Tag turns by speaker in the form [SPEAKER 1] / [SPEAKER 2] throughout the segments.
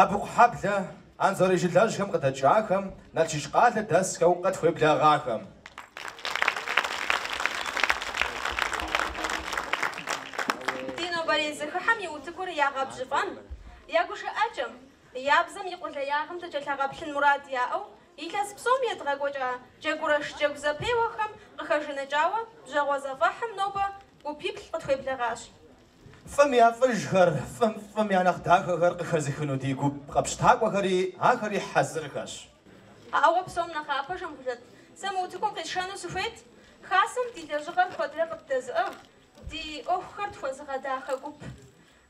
[SPEAKER 1] Абыкъухьэблэ Анзорей жылэжьхэм къыдэкӏахэм, Налшык къалэ дэсхэу
[SPEAKER 2] къытхуеблагъахэм. Ди нобэрей зэхыхьэм и утыкур ягъэбжьыфӏэн, я гушыӏэкӏэм, я бзэм и къулеягъым дыкӏэлъагъэплъын мурад яӏэу илъэс псом едгъэкӏуэкӏа Джэгурэш джэгу зэпеуэхэм къыхэжаныкӏауэ бжьэгъуэ зэфӏэхьым нобэ гупиплӏ къытхуеблэгъащ.
[SPEAKER 1] Фӏым я фӏыжхэр, фӏым фӏым я нэхъ дахэхэр къыхэзыхыну ди гуп къэпщтакӏуэхэри ахэри хьэзырхэщ. Ауэ
[SPEAKER 2] псом нэхъапэ, Жамболэт, сэ мы утыкум къисшэну сыхуейт Хасэм ди лэжьыгъэр куэдрэ къыддэзыӏыгъ, ди ӏуэхухэр тхуэзыгъэдахэ гуп.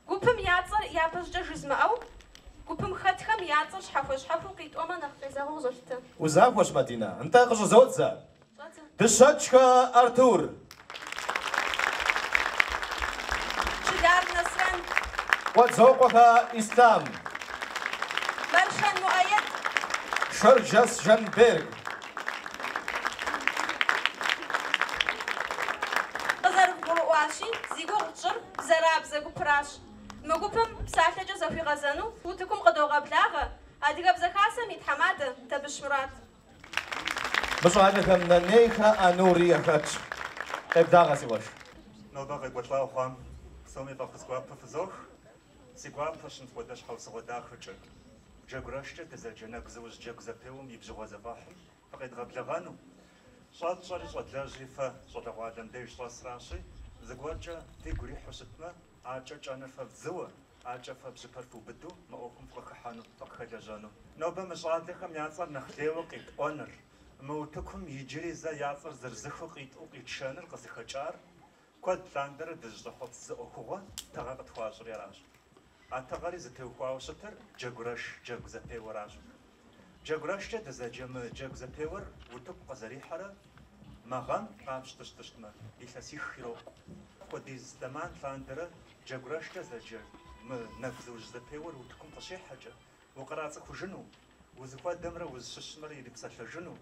[SPEAKER 2] Гупым я цӏэр япэщӏыкӏэ жызмыӏэу, гупым хэтхэм я цӏэр щхьэхуэ-щхьэхуу къитӏуэмэ нэхъ къезэгъыу къызолъытэ. Узахуэщ, Мадинэ,
[SPEAKER 1] нтӏэ, къыщӏызодзэ. Дыщэкӏхэ
[SPEAKER 2] Артур. Чылар Нэсрэн. Къуэдзокъуэхэ
[SPEAKER 1] Ислъам.
[SPEAKER 2] Мэршэн Муӏэед. Шэрджэс
[SPEAKER 1] Жанберг.
[SPEAKER 2] Къызэрывгурыӏуащи, зи гугъу тщӏыр Бзэрабзэ гупыращ. Мы гупым псалъэкӏэ зэхуигъэзэну утыкум къыдогъэблагъэ Адыгэбзэ Хасэм и тхьэмадэ Табыщ Мурат.
[SPEAKER 1] Мы щӏалэхэм Нэнейхэ Анури яхэтщ. Къеблагъэ, си къуэш. Нобэ
[SPEAKER 3] къекӏуэлӏауэ хъуам псоми фӏэхъус гуапэ фызох. Си гуапэщ мыпхуэдэ щхьэусыгъуэ дахэкӏэ Джэгурэшкӏэ дызэджэ нэгузыужь джэгу зэпеуэм и бжьыгъуэ зэфӏэхьым фыкъедгъэблэгъэну. Щӏэтщӏэри щӏэдлэжьри фэ щӏалэгъуалэм деж щӏэсращи, зыгуэркӏэ фигу ирихьу щытмэ, Адэкӏэ кӏэныр фэ вдзыуэ, адэкӏэ фэ бжьыпэр фыубыду мы ӏуэхум фыкъыхыхьэну, фыкъыхэлэжьэну. Нобэ мы щӏалэхэм я цӏэр нэхъ лейуэ къитӏуэныр, мы утыкум иджыри зэ я цӏэр зырызыххэу къитӏуэу къитшэныр къызыхэкӏар куэд лъандэрэ дызыщӏэхъуэпс зы ӏуэхугъуэ тыгъэ къытхуащӏри аращ. А тыгъэри зытеухуауэ щытыр Джэгурэш джэгу зэпеуэращ. Джэгурэшкӏэ дызэджэ мы джэгу зэпеуэр утыку къызэрихьэрэ мы гъэм къапщтэу щытмэ, илъэсих ирокъу. Апхуэдиз зэман лъандэрэ джэгурэшкӏэ зэджэ мы нэгузыужь зэпеуэр утыкум къыщихьэкӏэ, укърацӏыхужыну, узыхуэдэмрэ узыщыщымрэ ирипсэлъэжыну,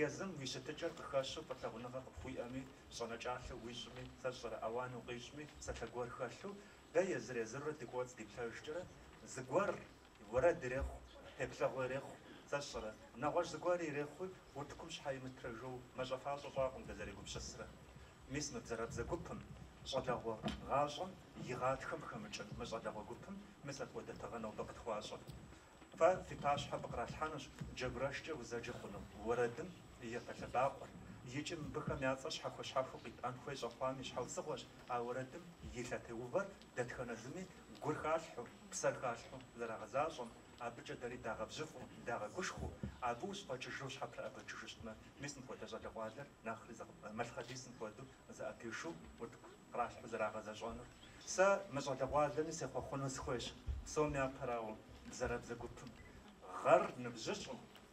[SPEAKER 3] езым уи щытыкӏэр къыхэщу фӏылъагъуныгъэ къыпхуиӏэми, щӏэнэкӏалъэу уищӏми, сэ сщӏэрэ ауан укъищӏми, псалъэ гуэр хэлъу, дэ езыр-езырурэ ди кӏуэцӏ диплъэжкӏэрэ, зыгуэр Уэрэд ирехъу, теплъэгъу ирехъу, сэ сщӏэрэ, нэгъуэщӏ зыгуэри ирехъуи, утыкум щхьэ имытрэ жоуэ мащӏэфащӏэ щӏакъым дызэрегупсысрэ. Мис мы Бзэрабзэ гупым, щӏалэгъуэ гъащӏэм и гъатхэм хэмыкӏын мы щӏалэгъуэ гупым мис апхуэдэ тыгъэ нобэ къытхуащӏыр. Фэ фи пащхьэм къралъхьэнущ джэгурэшкӏэ узэджэ хъуну уэрэдым и япэ лъэбакъуэр. Икӏи мыбыхэм я цӏэр щхьэхуэ-щхьэхуэу къитӏуэн хуей щӏэхъуам и щхьэусыгъуэщ а уэрэдым и лъэтеувэр Дэтхэнэ зыми гур халъхьэу, псэр халъхьэу зэрагъэзащӏэм, абыкӏэ дэри дагъэбжьыфӏэу, дагъэгушхуэу, абы ущыфӏэкӏыжу ущхьэпрыӏэбыкӏыжу щытмэ, мис мыпхуэдэ щӏалэгъуалэр нэхъри зэкъ-, малъхъэдисым хуэдэу узыӏэпишэу утыку къралъхьэу зэрагъэзэщӏэнур. Сэ мы щӏалэгъуалэми сехъуэхъуэну сыхуейщ, псом япэрауэ, Бзэрабзэ гупым, гъэр ныбжьыщӏу,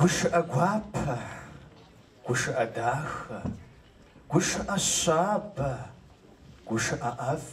[SPEAKER 1] Гушыӏэ гуапэ, гушыӏэ дахэ, гушыӏэ щабэ, гушыӏэ ӏэфӏ.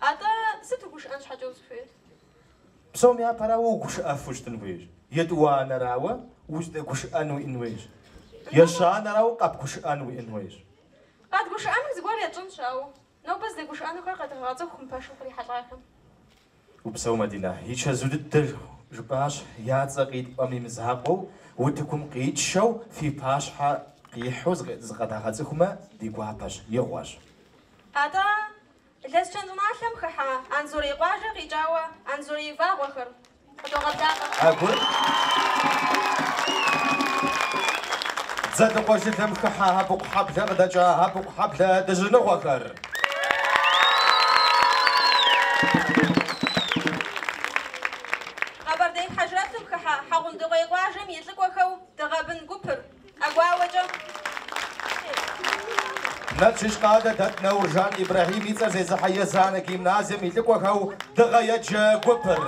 [SPEAKER 2] Атӏэ, сыт угушыӏэн щхьэкӏэ узыхуейр?
[SPEAKER 1] Псом япэрауэ угушыӏэфу ущытын хуейщ. Етӏуанэрауэ, уздэгушыӏэн уиӏын хуейщ. Ещанэрауэ, къэбгушыӏэн уиӏын хуейщ. Къэдгушыӏэным зыгуэр етщӏэнщ, ауэ нобэ здэгушыӏэнухэр
[SPEAKER 2] къедгъэгъэцӏыху мы пэшым кърихьэлӏахэм.
[SPEAKER 1] Упсэу, Мадинэ. И чэзу дыдэр жыпӏащ, я цӏэ къитӏуэм и мызакъуэу, утыкум къитшэу, фи пащхьэ къихьэу зыкъыдагъэцӏыхумэ, ди гуапэщ, игъуэщ. Атӏэ,
[SPEAKER 2] Лэскэн щӏыналъэм хыхьа Анзорей къуажэ къикӏауэ Анзорей вагъуэхэр къыдогъэблагъэ.
[SPEAKER 1] Аргуэру Дзэлыкъуэ жылэм хыхьа Абыкъухьэблэ къыдэкӏа Абыкъухьэблэ
[SPEAKER 2] дыжьыныгъуэхэр. Къэбэрдей Хьэжрэтым хыхьа Хьэгъундыкъуей къуажэм и лӏыкӏуэхэу Дыгъэ бын гупыр.
[SPEAKER 1] Налшык къалэ дэт Нэуржан Ибрэхьим и цӏэр зезыхьэ Езанэ гимназием и лӏыкӏуэхэу Дыгъэ еджэ гупыр.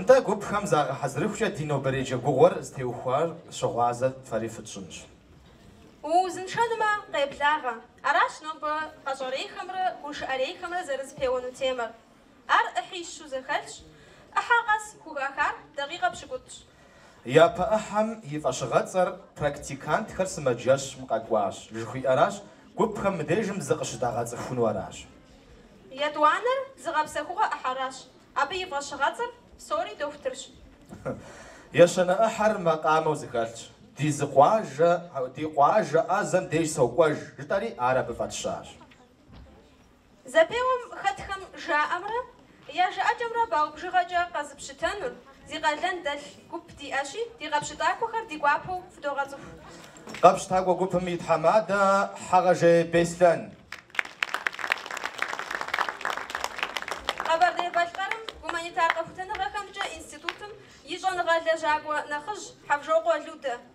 [SPEAKER 1] Нтӏэ, гупхэм загъэхьэзырыхукӏэ ди нобэрей джэгугъуэр зытеухуар щыгъуазэ фэри фытщӏынщ.
[SPEAKER 2] Уузыншэнумэ, къеблагъэ. Аращ нобэ къэщӏэрейхэмрэ гушыӏэрейхэмрэ зэрызэпеуэну темэр. Ар ӏыхьищу зэхэлъщ, ӏыхьэ къэс хухахар дакъикъэ пщыкӏутӏщ.
[SPEAKER 1] Япэ ӏыхьэм и фӏэщыгъэцӏэр практикантхэр сымаджэщым къэкӏуащ жыхуиӏэращ, гупхэм мыдежым зыкъыщыдагъэцӏыхуну аращ. Етӏуанэр
[SPEAKER 2] зыгъэпсэхугъуэ ӏыхьэращ, абы
[SPEAKER 1] и фӏэщыгъэцӏэр псори дохутырщ. Ещанэ ӏыхьэр макъамэу зэхэлъщ. Ди зы къуажэ, ди къуажэ ӏэзэм деж сокӏуэж, жытӏэри, ар абы фӏэтщащ.
[SPEAKER 2] Зэпеуэм хэтхэм жаӏэмрэ я жыӏэкӏэмрэ балл бжыгъэкӏэ къэзыпщытэнур зи къалэн дэлъ гуп диӏэщи, ди къэпщытакӏуэхэр ди гуапэу фыдогъэцӏыху. Къэпщытакӏуэ
[SPEAKER 1] гупым и тхьэмадэ Хьэгъэжей
[SPEAKER 2] Беслъэн. Къэбэрдей-Балъкъэрым гуманитар къэхутэныгъэхэмкӏэ институтым и щӏэныгъэ лэжьакӏуэ нэхъыжь Хьэвжокъуэ Людэ.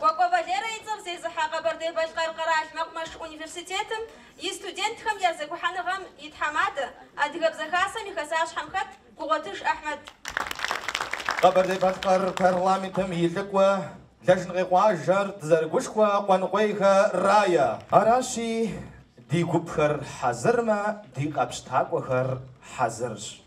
[SPEAKER 1] Кӏуэкӏуэ Валерэ и цӏэр зезыхьэ Къэбэрдей-Балъкъэр къэрал мэкъумэш университетым и студентхэм я зэгухьэныгъэм и тхьэмадэ, Адыгэбзэ Хасэм и хэсащхьэм хэт Гугъуэтыж Ахьмэд. Къэбэрдей-Балъкъэр парламентым и лӏыкӏуэ, Лашынкъей къуажэр дызэрыгушхуэ Къуэныкъуейхэ Рая. Аращи, ди гупхэр хьэзырмэ, ди къэпщытакӏуэхэр хьэзырщ.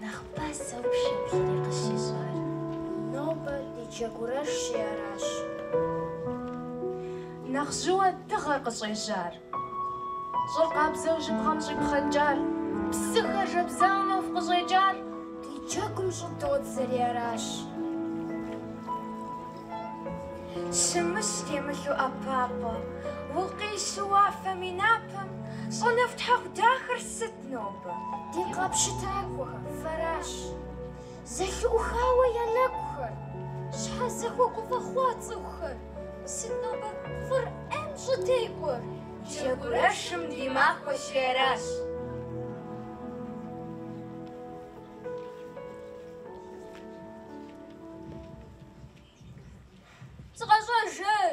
[SPEAKER 4] Нэхъ пасэу пшэплъри къыщӏищӏар.
[SPEAKER 5] Нобэ ди джэгурэшщи
[SPEAKER 6] аращ. Нэхъ жьыуэ дыгъэр къыщӏежьар. Щӏыр къабзэу жьыбгъэм щӏипхъэнкӏар. Псыхэр жэбзауэ нэху къыщӏекӏар. Ди
[SPEAKER 5] джэгум щӏыдодзэри аращ. Щымыщ темылъу ӏэпапӏэ. Укъищу уафэм и напэм. Щӏэнэфӏ тхьэӏухуд дахэр сыт? Нобэ ди къэпщытакӏуэхэ, фэращ зэлъыӏухауэ я нэгухэр. Щхьэ зэхуэгуфӏэ хъуа цӏыхухэр? Сыт нобэ фӏыр ӏейм щӏытекӏуэр? Джэгурэшым ди махуэщи аращ. Зыкъэщӏэж, ей!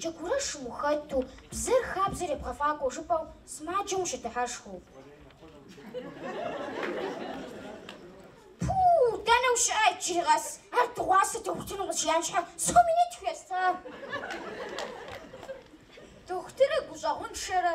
[SPEAKER 5] Джэгурэшым ухэту, бзэр хабзэр ебгъэфӏакӏуэу жыпӏэу сымаджэм ущыдыхьэшхыу. Пуу, дэнэ ущыӏэ иджыри къэс? Ар дыгъуасэ дохутырым къыщиям щхьэ сто минут хуеста? Дохутырыр гущӏэгъуншэрэ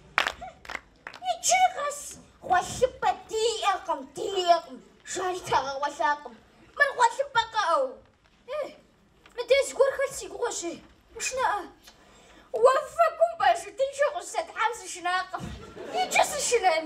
[SPEAKER 5] Иджыри къэс гъуэлъыпӏэ диӏэкъым, диӏэкъым, жари дагъэгъуэлъакъым. Мыр гъуэлъыпӏэ кӏыӏэу. Э, мыдэ зыгуэр хэлъ си гугъэщи, ушынэӏэ. Уафэгум
[SPEAKER 7] парашютыншэу къыщызэтхьам сышынакъым. Иджы сышынэн.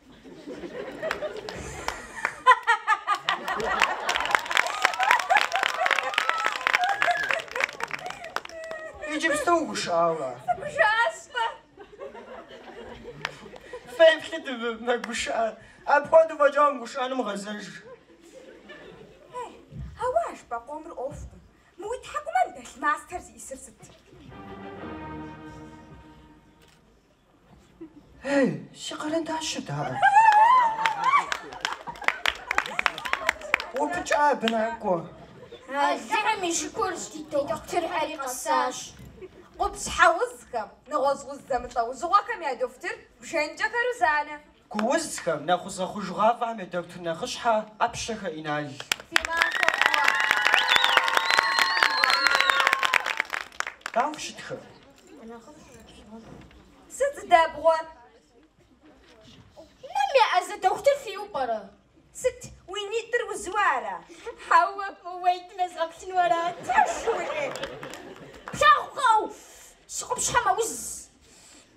[SPEAKER 7] Иджыпсту гушыӏауэ. Гушыӏащ-тӏэ. Феплъыт мэгушыӏэ. Апхуэдэу фӏэкӏа умыгушыӏэным
[SPEAKER 5] гъэзэж. Ауэ а жыпӏэ къомыр ӏуэхукъым. Мы уи тхьэкӏумэм дэлъ мастэр зищӏысыр сыт?
[SPEAKER 7] Ей, си къэрэндащыр дааӏэ? Упыкӏа абы накӏуэ.
[SPEAKER 5] Алыхьым и шыкур ди дохутырхэри къэсащ. Къупщхьэ узхэм, нэгъуэщӏ уз зэмылӏэужьыгъуэхэм я дохутыр Бжэныкӏэхэ Рузанэ.
[SPEAKER 7] Гуузхэм, нэхъузэхъужгъафӏэхэм я дохутыр нэхъыщхьэ, ӏэпщэхэ Инал. Дауэ фыщытхэ? Сыт
[SPEAKER 5] зыдэбгъуэр? Нэм еӏэзэ дохутыр фиӏэу пӏэрэ? Сыт, уи нитӏыр узуэ ара? Хьэуэ, мы уэйтым езгъэплъыну арат. Фэ жыуи? Плъагъукъэ-у, си къупщхьэ мэуз.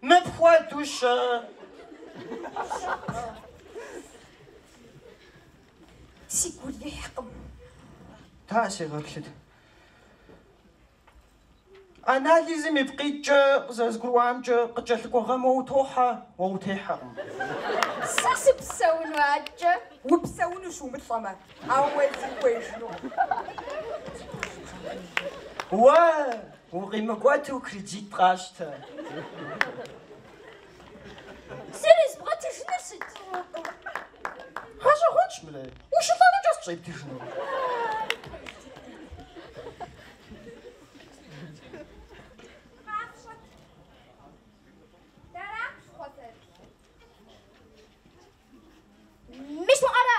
[SPEAKER 7] Мыпхуэдэу
[SPEAKER 5] щы. Си гу ирихькъым. Та
[SPEAKER 7] сегъэплъыт. Анализым ипкъ иткӏэ къызэзгурыӏуамкӏэ къыкӏэлъыкӏуэ гъэм уэ утохьэ, уэ
[SPEAKER 5] утехьэкъым. Сэ сыпсэуну аткӏэ? Упсэунущ умылӏэмэ, ауэ уэ узыхуеижынукъым.
[SPEAKER 7] Уэ! Укъимыкӏуэту кредит
[SPEAKER 5] къащтэ. Зэрезбгъэтыжынур сыт?
[SPEAKER 7] Гъэщӏэгъуэнщ мыри. Ущылӏэну кӏэ сщӏептыжыну.
[SPEAKER 5] Мис уӏэрэ?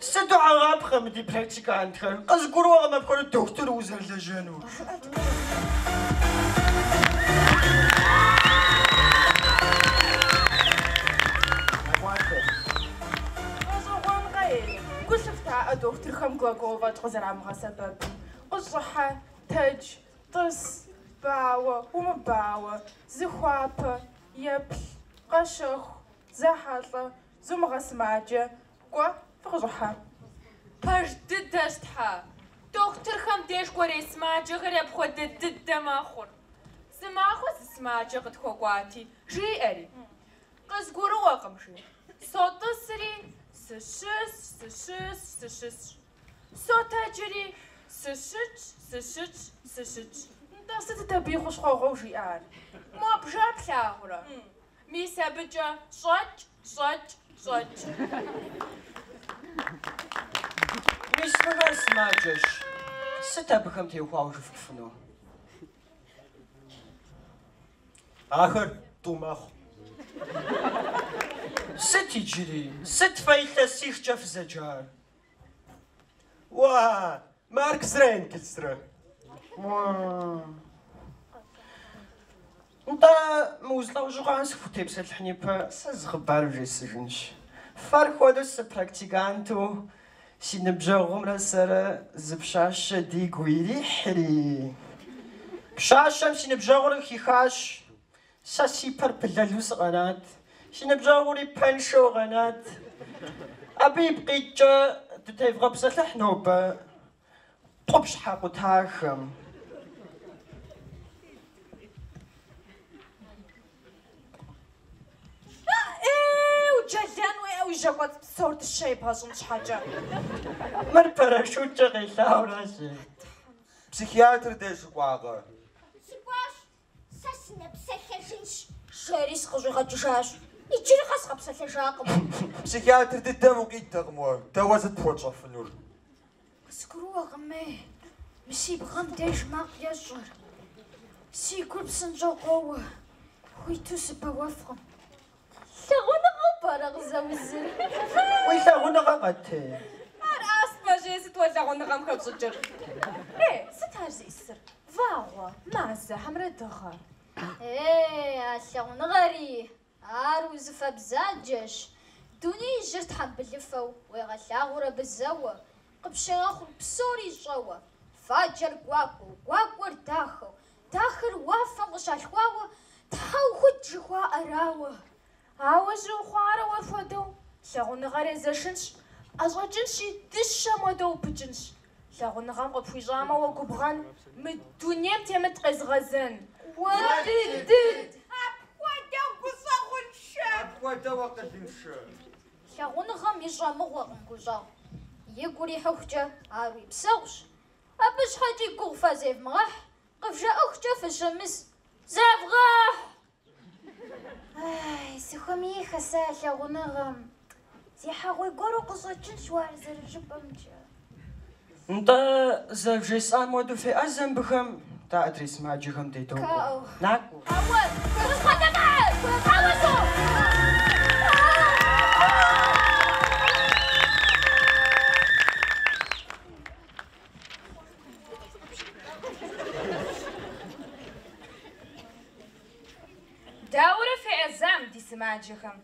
[SPEAKER 7] Сыту хьэгъапхъэ мы ди практикантхэр! Къызгурыӏуэкъым апхуэдэ дохутыру узэрылэжьэнур.
[SPEAKER 6] Гъэщӏэгъуэнкъэ-ей, гу лъыфтаӏэ дохутырхэм глагол фӏэкӏ къызэрамыгъэсэбэпым. Къыщӏыхьэ, тэдж, тӏыс, бауэ, умыбауэ, зыхуапэ, еплъ, къэщэху, зэхьэлӏэ, Зумыгъэсымаджэ, кӏуэ, фыкъыщӏыхьэ.
[SPEAKER 8] Пэж дыдэщ Тхьэ. Дохутырхэм деж кӏуэрей сымаджэхэри апхуэдэ дыдэ мэхъур. Зы махуэ зы сымаджэ къытхуэкӏуати, жиӏэри, Къызгурыӏуэкъым, жи. Сотӏысри, Сыщысщ, сыщысщ, сыщысщ. Сотэджри, Сыщытщ, сыщытщ, сыщытщ. Нтӏэ, сытыт абы
[SPEAKER 6] и хущхъуэгъуэу жиӏар? Мо бжэр
[SPEAKER 8] плъагъурэ? Мис абыкӏэ щӏэкӏ, щӏэкӏ, щӏэкӏ.
[SPEAKER 7] Мис мыхэр сымаджэщ, сыт абыхэм теухуауэ жыфӏэфыну?
[SPEAKER 1] Ахэр тӏу
[SPEAKER 7] мэхъу. Сыт иджыри, сыт фэ илъэсихкӏэ фызэджар?
[SPEAKER 1] Уа, Марксрэ Энгельсрэ.
[SPEAKER 7] Нтӏэ, мы уз лӏэужьыгъуэм сыфхутепсэлъыхьын ипэ, сэ зы хъыбар вжесӏэжынщ. Фэр хуэдэу сэ практиканту си ныбжьэгъумрэ сэрэ зы пщащэ дигу ирихьри. Пщащэм си ныбжьэгъур хихащ. Сэ си пэр пылэлу сыкъэнат. Си ныбжьэгъури пэншэу къэнат. Абы ипкъ иткӏэ дытевгъэпсэлъыхь нобэ къупщхьэ къутахэм.
[SPEAKER 6] Аӏеу, уджэлэн хуея уи жьэ кӏуэцӏ псор дыщэ ебгъэщӏын
[SPEAKER 7] щхьэкӏэ. Мыр парашюткӏэ къелъауэ аращ. Психиатр
[SPEAKER 1] деж укӏуакъэ? Сыкӏуащ,
[SPEAKER 5] Сэ сынэпсэлъэжынщ, жери сыкъыщӏигъэкӏыжащ. Иджыри къэс къэпсэлъэжакъым. Психиатр дыдэм
[SPEAKER 1] укъидэкъым уэ, дэ уэ сыт пхуэтщӏэфынур?
[SPEAKER 5] Къызгурыӏуэкъыми, мы си бгъэм деж макъ ещӏыр. Си гур псынщӏэу къоуэ, хуиту сыбэуэфкъым. Лъагъуныгъэу пӏэрэ къызэузыр?
[SPEAKER 7] Уи лъагъуныгъэкъэ-тӏэ? Ар
[SPEAKER 8] астмэщи, сыт уэ лъагъуныгъэм хэпщӏыкӏыр?
[SPEAKER 6] Е, сыт ар зищӏысыр? Вагъуэ, мазэ
[SPEAKER 5] хьэмэрэ дыгъэ? Е, а лъагъуныгъэри, ар узыфэ бзаджэщ. Дунеижьыр тхьэмбылыфэу уегъэлъагъур абы зэуэ, къыпщегъэхъур псори щӏэуэ, фаджэр гуакӏуэу, гуакӏуэр дахэу, Дахэр уафэм къыщалъхуауэ, Тхьэӏухуд жыхуаӏэрауэ.
[SPEAKER 6] Ауэ жьы ухъуарэ уэр хуэдэу, Лъагъуныгъэр езэшынщ, ӏэщӏэкӏынщи, Дыщэм хуэдэу упыкӏынщ. Лъагъуныгъэм къыпхуищӏамэ уэ губгъэн, Мы дунейм темыт къезыгъэзэн. Уэ
[SPEAKER 5] дыд! Апхуэдэу гущӏэгъуншэ! Апхуэдэу акъылыншэ! Лъагъуныгъэм ищӏэ мыгъуэкъым гущӏэгъу. Игу урихьыхукӏэ, ар уи псэгъущ. Абы щхьэкӏи гугъу фэ зевмыгъэхь, къывжаӏэхукӏэ фыщымыс. Зевгъэхь! Ай, сыхуэмеиххэ сэ лъагъуныгъэм. Зехьэгъуей гуэру къыщӏэкӏынщ уэ ар зэрыжыпӏэмкӏэ.
[SPEAKER 7] Нтӏэ, зэрывжесӏам хуэдэу феӏэзэ мыбыхэм, дэ адрей сымаджэхэм дедокӏуэ. Накӏуэ.
[SPEAKER 5] Ауэ, къысхуэдэмыхьэ! Ауэ сохъу!
[SPEAKER 8] Дауэрэ феӏэзам, ди сымаджэхэм?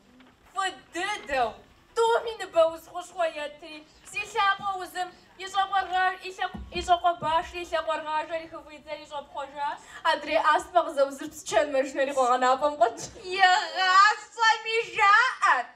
[SPEAKER 8] Фӏы дыдэу, тӏуми ныбэуз хущхъуэ етри, зи лъакъуэ узым и щӏакъуэ башри и лъакъуэрыгъажэри хыфӏидзэри щӏэпхъуэжащ. Адрей астмэ
[SPEAKER 6] къызэузыр псчэн мэшынэри къуэгъэнапӏэм къуэтщ. Игъащӏэми
[SPEAKER 8] жаӏэрт,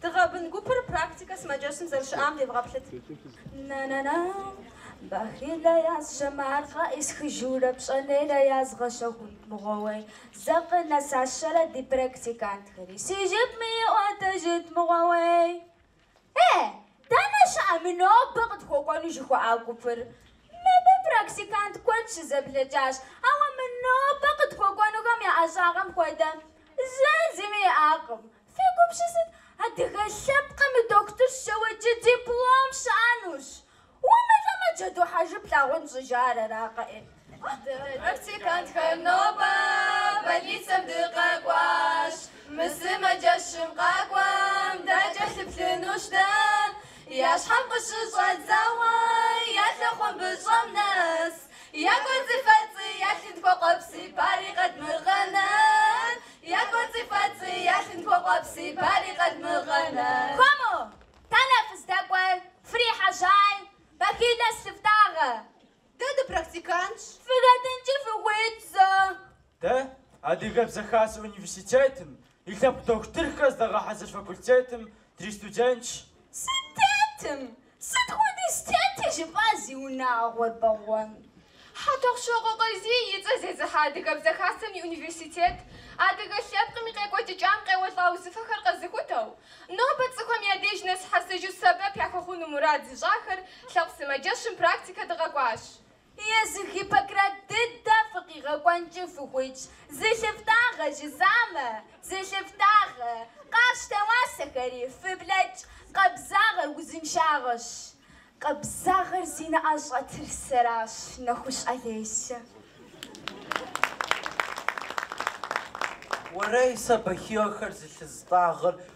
[SPEAKER 2] Дыгъэ бын гупыр практикэ сымаджэщым зэрыщыӏам девгъэплъыт. Бахилэ ясщэм ар къаӏысхыжурэ пщӏэнейрэ язгъэщэхунт мыгъуэуей зэ къынэсащэрэ ди практикантхэри си жыпми иӏуэтэжыт мыгъуэуей. Э, дэнэ щыӏэ мы нобэ къытхуэкӏуэну жыхуаӏа гупыр? Мыбы практикант куэд щызэблэкӏащ, ауэ мы нобэ къытхуэкӏуэнухэм я ӏэщӏагъэм хуэдэ зэ зыми иӏакъым. Фи гум щысыт, адыгэ лъэпкъым и дохутыр щэуэкӏи диплом щыӏэнущ. Умылӏэмэ, джэду хьэжы плъагъун щӏыжаӏар аракъэ. Дэ практикантхэр
[SPEAKER 8] нобэ больницэм дыкъэкӏуащ. Мы сымаджэщым къакӏуэм дакӏэлъыплъынущ дэ. Я щхьэм къыщыщӏэдзауэ я лъэхъуэмбыщӏэм нэс. Я кӏуэцӏыфэцӏи я лъынтхуэ къуэпси пари къэдмыгъэнэн. Я кӏуэцӏыфэцӏи, я лъынтхуэ къуэпси, пари къэдмыгъэнэн.
[SPEAKER 2] Хуэму, дэнэ фыздэкӏуэр, фрихьэжьай, бахилэ зылъыфтӏагъэ. Дэ
[SPEAKER 8] дыпрактикантщ.
[SPEAKER 2] Фыхэтынкӏи фыхуитщ зэ.
[SPEAKER 9] Дэ Адыгэбзэ Хасэ университетым и лъэпкъ дохутырхэр здагъэхьэзыр факультетым дристудентщ. Сытетым
[SPEAKER 2] Сыт хуэдиз тети жыфӏа зи унагъуэр бэгъуэн? Хьэтӏохъущокъуэ
[SPEAKER 8] Къазий и цӏэ зезыхьэ Адыгэбзэ Хасэм и университет адыгэ лъэпкъым и къекӏуэкӏыкӏам къеуэлӏа узыфэхэр къэзыхутэу, нобэ цӏыхухэм я деж нэзыхьэсыжу сэбэп яхуэхъуну мурад зыщӏахэр лъэпкъ сымаджэщым практикэ дыкъэкӏуащ.
[SPEAKER 2] Езы Гиппократ дыдэ фыкъигъэкӏуэнкӏи фыхуитщ. Зылъыфтӏагъэ жысӏамэ, зылъыфтӏагъэ. Къащтэ уасэхэри, фыблэкӏ. Къабзагъэр узыншагъэщ. Къабзагъэр зи нэӏэщӏэтыр сэращ, нэхущ Олесэ.
[SPEAKER 1] Уэрей сэ бахилэхэр зылъыстӏагъэр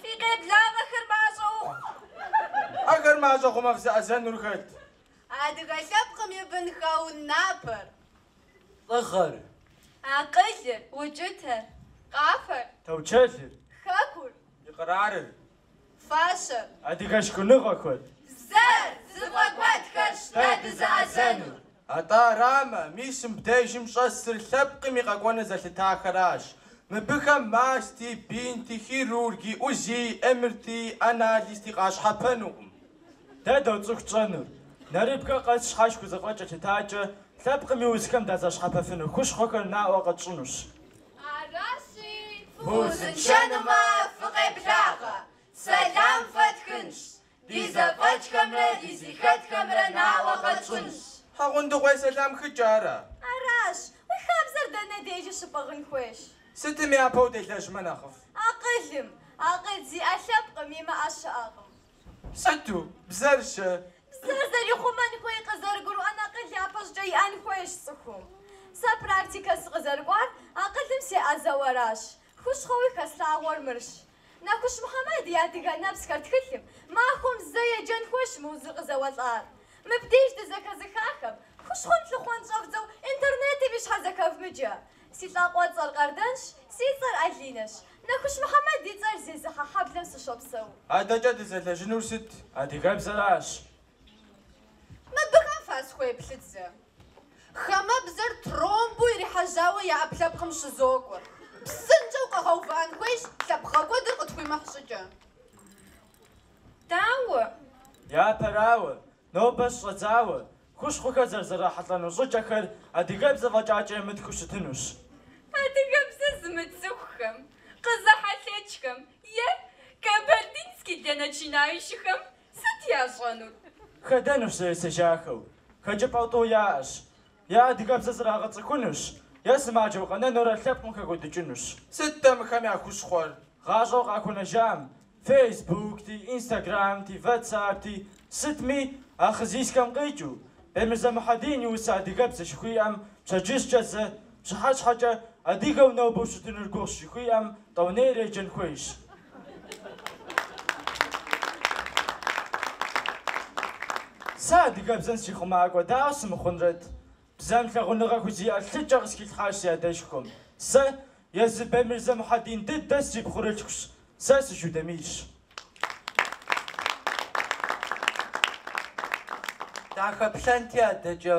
[SPEAKER 8] Фи къеблагъэхэр мащӏэ
[SPEAKER 1] ухъу. Ахэр мащӏэ хъумэ фызэӏэзэнур хэт?
[SPEAKER 8] Адыгэ лъэпкъым и бынхэу напэр. Лӏыгъэр. Акъылыр. Укӏытэр. Къафэр.
[SPEAKER 9] Таучэлыр. Хэкур. И
[SPEAKER 8] къэрарыр.
[SPEAKER 9] Фащэр. Адыгэ шхыныгъэхэр. Бзэр.
[SPEAKER 10] Зыфӏэкӏуэдхэрщ дэ дызэӏэзэнур. Атӏэ
[SPEAKER 9] арамэ, мис мыбдежым щӏэсыр лъэпкъым и къэкӏуэныр зэлъытахэращ. Мыбыхэм масти, бинти, хирурги, УЗИ, МРТ, анализти къащхьэпэнукъым. Дэ доцӏыху тщӏэнур, нэрыбгэ къэс щхьэж хузэфӏэкӏ елъытакӏэ, лъэпкъым и узхэм дазэщхьэпэфыну хущхъуэхэр наӏуэ къэтщӏынущ.
[SPEAKER 5] Аращи, фыузыншэнумэ, фыкъеблагъэ, сэлам фэтхынщ. Ди зэфӏэкӏхэмрэ дызыхэтхэмрэ наӏуэ къэтщӏынщ.
[SPEAKER 9] Хьэгъундыкъуей сэлам хыкӏэ ара? Аращ.
[SPEAKER 5] Уи хабзэр дэнэ дежи щыпӏыгъын хуейщ? Сытым япэу
[SPEAKER 9] делэжьмэ нэхъыфӏ? Акъылым.
[SPEAKER 5] Акъыл зиӏэ лъэпкъым, имыӏэ щыӏэкъым.
[SPEAKER 9] Сыту? Бзэр-щэ? Бзэр
[SPEAKER 5] зэрихъумэн хуей къызэрыгурыӏуэн акъыл япэщӏыкӏэ иӏэн хуейщ цӏыхум. Сэ практикэ сыкъызэрыкӏуар акъылым сеӏэзэу аращ. Хущхъуэуи хэслъагъуэр мырщ. Нэхущ Мухьэмэд и адыгэ нэпсхэр тхылъым, махуэм зэ еджэн хуейщ мы узыр къызэуэлӏар. Мыбдеж дызэхэзыхахэм, хущхъуэм лъыхъуэн щӏэвдзэу интернетым и щхьэр зэхэвмыджэ. Си лӏакъуэцӏэр Къардэнщ, си цӏэр Алинэщ. Нэхущ Мухьэмэд и цӏэр зезыхьэ хьэблэм сыщопсэу. Адэкӏэ дызэлэжьынур
[SPEAKER 9] сыт? Адыгэбзэращ.
[SPEAKER 10] Мыбыхэм фасхуеплъыт зэ. Хамэ бзэр тромбу ирихьэжьауэ я ӏэпкълъэпкъым щызокӏуэр. Псынщӏэу къэгъэувыӏэн хуейщ лъэпкъгъэкӏуэдыр къытхуимыхь щӏыкӏэ.
[SPEAKER 2] Дауэ? Япэрауэ,
[SPEAKER 9] нобэ щыщӏэдзауэ, хущхъухэр зэрызрахьэлӏэну щӏыкӏэхэр адыгэбзэ фӏэкӏакӏэ мытхыу щытынущ. Адыгэбзэ
[SPEAKER 8] зымыцӏыхухэм, къызэхьэлъэкӏхэм е кабардинский для начинающиххэм Сыт ящӏэнур? Хэдэнущ
[SPEAKER 9] зэ есэжахэу. Хэкӏыпӏэу тӏу яӏэщ. Е адыгэбзэ зрагъэцӏыхунущ, е сымаджэу къэнэнурэ лъэпкъым хэкӏуэдыкӏынущ. Сыт-тӏэ мыхэм я хущхъуэр? Гъащӏэу къахуэнэжам, фейсбукти, инстаграмти, ватсапти, сытми, а хъы зисхэм къикӏыу, Бемырзэ Мухьэдин и усэ адыгэбзэ жыхуиӏэм пщэдджыжькӏэ зэ, пщыхьэщхьэкӏэ, адыгэу нобэу щытынур гугъущ жыхуиӏэм, Тӏэунейрэ еджэн хуейщ. Сэ адыгэбзэм сихъумакӏуэ дауэ сымыхъунрэт? Бзэм лъагъуныгъэ хузиӏэ лъыкӏэ къысхилъхьащ си адэшхуэм. Сэ езы Бемырзэ Мухьэдин дыдэ срипхъурылъхущ. Сэ сыжудэмийщ. Дахэплъэнти адэкӏэ.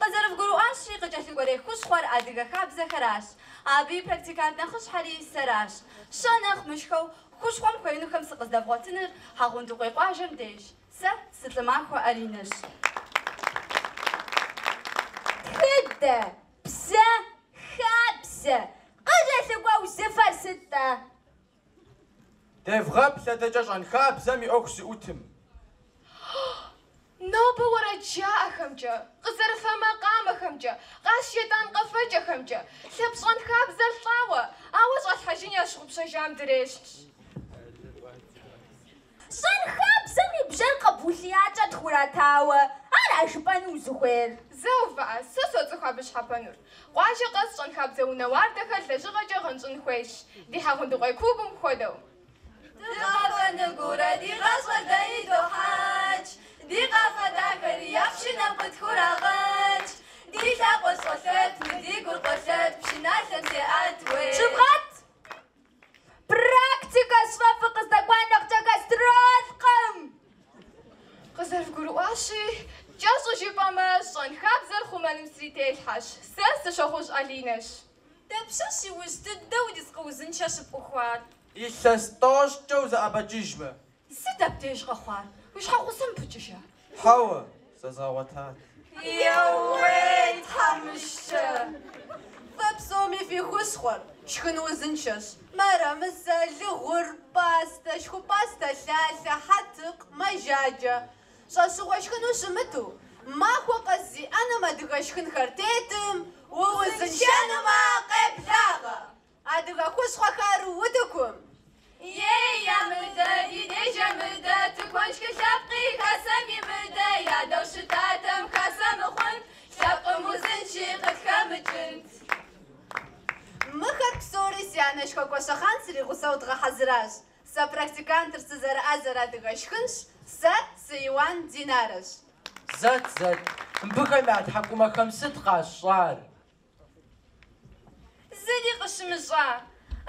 [SPEAKER 5] Къызэрывгурыӏуащи, къыкӏэлъыкӏуэрей хущхъуэр адыгэ хабзэхэращ. Абы и практикант нэхъыщхьэри сэращ. Щэ нэхъ мышхэу, хущхъуэм хуеинухэм сыкъыздэвгъуэтыныр Хьэгъундыкъуей къуажэм деж. Сэ сы-Лӏымахуэ Аринэщ. Тхыдэ, бзэ, хабзэ, къыкӏэлъыкӏуэ узыфэр сыт-тӏэ?
[SPEAKER 9] Девгъэплъ адэкӏэ щӏэнхабзэм и ӏуэху
[SPEAKER 8] зыӏутым. Нобэ уэрэд жаӏэхэмкӏэ, къызэрыфэ макъамэхэмкӏэ, къащӏ шейтӏан къэфэкӏэхэмкӏэ, лъэпкъ щӏэнхабзэр лӏауэ, ауэ щӏалъхьэжын ящыгъупщэжам дрещхьщ.
[SPEAKER 5] Щэнхабзэм и бжьэр къэб улъиякӏэ тхуратауэ, ара жыпӏэну узыхуейр? Зэ увыӏэ,
[SPEAKER 8] сэ соцӏыху абы щхьэпэнур. Къуажэ къэс щэнхабзэ унэ уардэхэр лэжьыгъэкӏэ гъэнщӏын хуейщ, ди Хьэгъундыкъуей клубым хуэдэу.
[SPEAKER 5] Дыкъафэну гурэ ди гъащӏэр дэ идохьэкӏ, ди къафэ дахэри я пшынэм къытхурагъэкӏ. Ди лъакъуэр щӏолъэт, мы ди гур къолъэт, пшыналъэм зеӏэт, уей! Щыбгъэт! Практикэщ фэ фыкъыздэкӏуа нэхъкӏэ
[SPEAKER 8] гастролкъым! Къызэрывгурыӏуащи, кӏэщӏу жыпӏэмэ, щэнхабзэр хъумэным сри телъхьэщ. Сэ сы Щохъужь Алинэщ.
[SPEAKER 2] Дапщэщ иужь дыдэу ерыскъы узыншэ щыпӏухуар? Илъэс
[SPEAKER 9] тӏощӏкӏэ узэӏэбэкӏыжмэ, Сыт
[SPEAKER 5] абдеж къэхъуар? Уи щхьэгъусэм упыкӏыжа?
[SPEAKER 9] Хьэуэ,
[SPEAKER 5] зэзгъэгъуэтат. Еууей, тхьэмыщкӏэ! Фэ псоми фи хущхъуэр, шхын узыншэщ. Мэрэмысэ, лыгъур, пӏастэ, шхупӏастэ, лъалъэ, хьэтыкъ, мэжаджэ. Щӏэщыгъуэ шхыну щымыту, махуэ къэс зи ӏэнэм адыгэ шхынхэр тетым, уузыншэнумэ, къеблагъэ! Адыгэ хущхъуэхэр утыкум. Ей, ямыдэ, ди деж ямыдэ, тыкуэншхыр лъэпкъи хасэм имыдэ, ядэу щытатэм хасэ мыхъунт, лъэпкъым узынши къытхэмыкӏынт.
[SPEAKER 10] Мыхэр псори си анэшхуэ Гуащэхъан сригъусэу дгъэхьэзыращ. Сэ практикантыр сызэрыӏэзэр адыгэ шхынщ, сэ сы Иуан Динарэщ. Зэт,
[SPEAKER 7] зэт, мыбыхэм я тхьэкӏумэхэм сыт къащӏар?
[SPEAKER 6] Зыри къыщымыщӏа,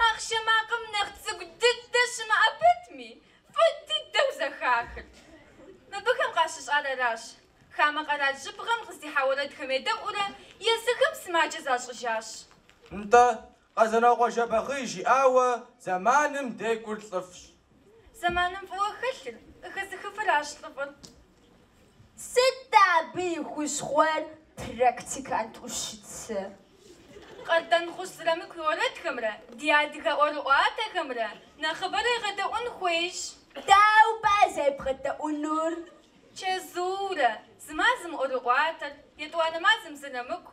[SPEAKER 6] ахъшэ макъым нэхъ цӏыкӏу дыдэ щымыӏэ пэтми, фӏы дыдэу зэхахыр. Мыбыхэм къащыщӏар аращ, хамэ къэрал жьыбгъэм къыздихьа уэрэдхэм едэӏуурэ, езыхэм сымаджэ защӏыжащ.
[SPEAKER 9] Нтӏэ, Къэзанокъуэ Жэбагъы жиӏауэ зэманым декӏур лӏыфӏщ. Зэманым
[SPEAKER 6] фӏыуэ хэлъыр, къыхэзыхыфыращ лӏыфӏыр.
[SPEAKER 5] Сыт абы и хущхъуэр практикант ӏущыцэ?
[SPEAKER 6] Къардэнхъущ Зырамыку и уэрэдхэмрэ ди адыгэ ӏуэрыӏуатэхэмрэ нэхъыбэрэ егъэдэӏуэн хуейщ.
[SPEAKER 5] Дауэ пӏэрэ зэребгъэдэӏуэнур? Чэзуурэ,
[SPEAKER 6] зы мазэм ӏуэрыӏуатэр, етӏуанэ мазэм Зырамыку,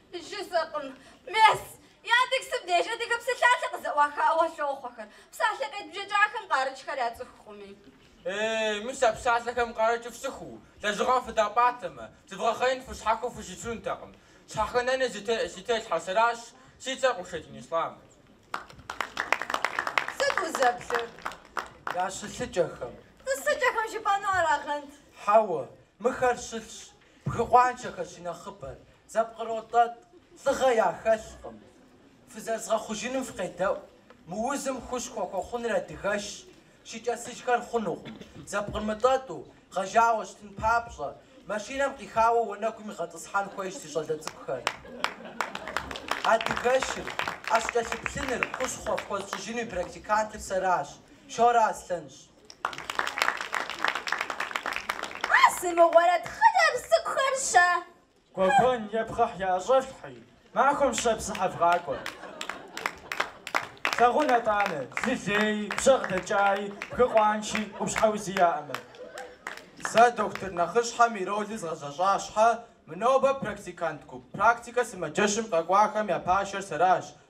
[SPEAKER 5] Жызыӏкъым, мес, Яндексым деж адыгэ псалъалъэ къызэӏуахауэ лъохъуэхэр, псалъэ къедбжэкӏахэм къарыкӏхэр яцӏыхукъыми. Э,
[SPEAKER 11] мис а псалъэхэм къарыкӏыр фцӏыхуу, лэжьыгъэм фыдапӏатэмэ, зывгъэхъеин фыщхьэхыу фыщытынутэкъым. Щхьэхынэни зи телъхьэр сэращ, си цӏэр Къушэдин Ислъам.
[SPEAKER 10] Сыт узэплъыр? Я
[SPEAKER 7] щылъыкӏэхэм. Тӏысыкӏэхэм
[SPEAKER 5] жыпӏэну арагъэнт. Хьэуэ,
[SPEAKER 7] мыхэр щылъщ. Бгы къуаншэхэр щынэхъыбэр зэпкъротӏэтӏ, лӏыгъэ яхэлъкъым. Фызэрызгъэхъужыным фыкъедэӏу, мы узым хущхъуэ хуэхъуныр адыгэшщ, щыкӏэцыжхэр хъунукъым. Зэпкърмытӏэтӏу, гъэжауэ щытын папщӏэ, машинэм къихауэ уанэгум игъэтӏысхьэн хуейщ си щӏалэ цӏыкӏухэр. Адыгэшыр, ӏэщ кӏэлъыплъыныр, хущхъуэ фхуэзщӏыжынуи практикантыр сэращ, Шорэ Аслъэнщ.
[SPEAKER 5] А сымыгъуэрэт
[SPEAKER 9] хъыджэбз цӏыкӏухэр щэ. Гуэгуэн е пхъэхь яӏэщӏэфлъхьи, махуэм щэ псыхьэ вгъакӏуэ. Тлъагъун атӏанэ, лы леи, бжьэгъ дэкӏаи, бгы къуанши, къупщхьэ узи яӏэмэ. Сэ дохутыр нэхъыщхьэм и роли згъэзэщӏа щхьэ, мы нобэ практикант гуп практикэ сымаджэщым къэкӏуахэм я пашэр сэращ,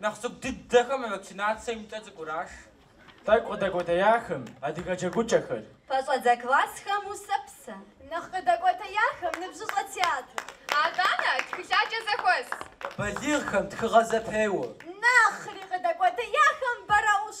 [SPEAKER 11] Нэхъ цӏыкӏу дыдэхэм вакцинацэ имкӏэ цӏыкӏураш.
[SPEAKER 9] Тӏэкӏу къыдэкӏуэтеяхэм, адыгэ джэгукӏэхэр. Пэщӏэдзэ
[SPEAKER 5] классхэм усэпсэ. Нэхъ
[SPEAKER 6] къыдэкӏуэтеяхэм, ныбжьыщӏэ театр. Аданэ, тхылъаджэ зэхуэс.
[SPEAKER 7] Балигъхэм, тхыгъэ зэпеуэ. Нэхъри
[SPEAKER 5] къыдэкӏуэтеяхэм, бэрэӏущ.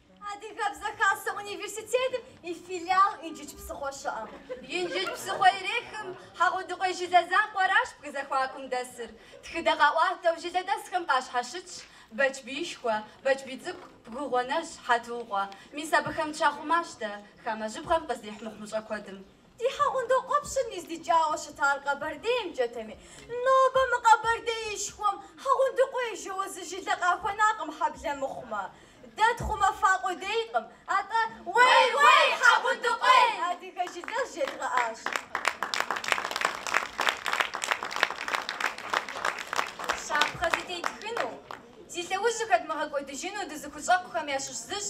[SPEAKER 5] Адыгэбзэ Хасэ университетым и филиал Инжыдж псыхъуэ щыӏэм. Инжыдж псыхъуэ ирехым Хьэгъундыкъуей жылэ закъуэращ бгы зэхуакум дэсыр. Тхыдэ къаӏуатэу жылэдэсхэм къащхьэщытщ Бэчбиишхуэ, Бэчбий цӏыкӏу, Бгыгъуэнэжь, Хьэтукъуэ. Мис абыхэм дыщахъумащ дэ, хамэ жьыбгъэм къыздихь мыхъумыщӏэ куэдым. Ди Хьэгъундокъуэпщыр ныздикӏауэ щытар Къэбэрдеймкӏэтэми, нобэ мы Къэбэрдеишхуэм Хьэгъундыкъуей жэуэ зы жылэ къахуэнакъым хьэблэ мыхъумэ. Дэ тхъумэфа къудейкъым, атӏэ Уей-уей, Хьэгъундыкъуей! адыгэ жылэр
[SPEAKER 6] жедгъэӏащ. Щапхъэ зытетхыну, зи лъэужьхэр дымыгъэкӏуэдыжыну дызыхущӏэкъухэм ящыщ зыщ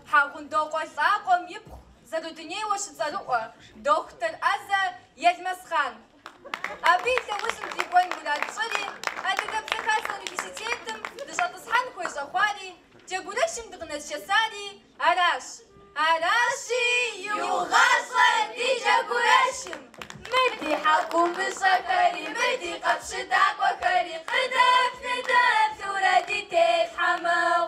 [SPEAKER 6] Хьэгъундокъуэ лӏакъуэм ипхъу зэрыдунейуэ щыцӏэрыӏуэ дохутыр ӏэзэ Елмэсхъан. Абы и лъэужьым дикӏуэн мурад тщӏыри, Адыгэбзэ хасэ университетым дыщӏэтӏысхьэн хуей щӏэхъуари, джэгурэшым дыкъынэсшэсари аращ. Аращи, иугъащӏэ ди джэгурэшым. Мы ди хьэкумыщӏэхэри, мы ди къэпщытакӏуэхэри къыдэф-ныдэфурэ ди телъхьэ мэхъу.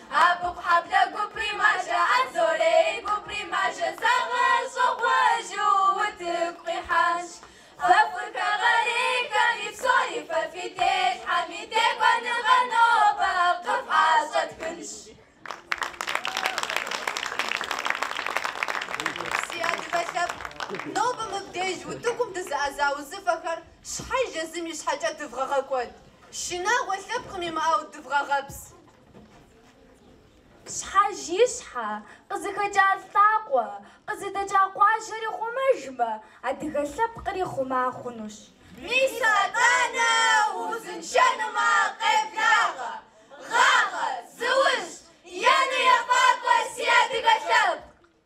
[SPEAKER 6] Абыкъухьэблэ гупри мажэ Анзорей гупри мажэ Зэгъэщӏэгъуэжу утыку къихьащ Фэ фырихэгъэрейхэми псори Фэ фи телъхьэми текӏуэныгъэр Нобэ къыфӏэщӏэтхынщ
[SPEAKER 10] Си адыгэ лъэпкъ, нобэ мыбдеж утыкум дызыӏэза узыфэхэр щхьэж езым и щхьэкӏэ дывгъэгъэкӏуэд, шынагъуэ лъэпкъым имыӏэу дывгъэгъэпс.
[SPEAKER 4] Щхьэж и щхьэ, къызыхэкӏа лӏакъуэ, къызыдэкӏа къуажэри хъумэжмэ, адыгэ лъэпкъри хъума хъунущ. Мис
[SPEAKER 6] атӏанэ узыншэнумэ, къеблагъэ, гъагъэ, зыужь, ену ефӏакӏуэ си адыгэ лъэпкъ!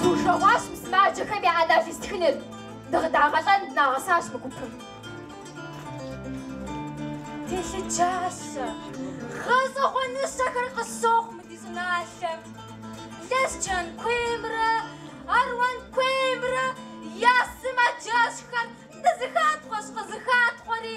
[SPEAKER 4] Дужэгъуащ мы сымаджэхэм я ӏэнатӏ естхыныр. Дыкъыдагъэлӏэн дынагъэсащ мы гупым. Телъыджащэ. Гъэщӏэгъуэныщэхэр къыщохъу мы ди щӏыналъэм. Лэскэн куеймрэ Аруан куеймрэ я сымаджэщхэр нызэхатхъуэщ къызэхатхъуэри.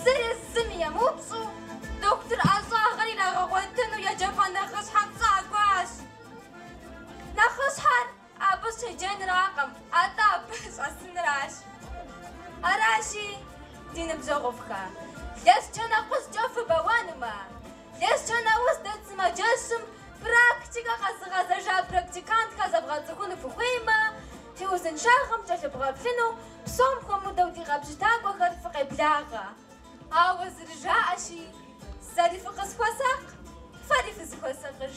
[SPEAKER 4] Зырызым емыупщӏу, дохутыр ӏэщӏагъэр ирагъэгъуэтыну еджапӏэ нэхъыщхьэм щӏакӏуащ. Нэхъыщхьэр абы щеджэнракъым, атӏэ абы щӏэсынращ. Аращи, ди ныбжьэгъуфӏхэ, Лэскэн акъужькӏэ фыбэуэнумэ, Лэскэн ауз дэт сымаджэщым практикэ къэзыгъэзэжа практикантхэр зэбгъэцӏыхуну фыхуеймэ, ди узыншагъэм кӏэлъыбгъэплъыну псом хуэмыдэу ди къэпщытакӏуэхэр фыкъеблагъэ. Ауэ зэрыжаӏэщи, Сэри фыкъысхуэсакъ, фэри фызыхуэсакъыж.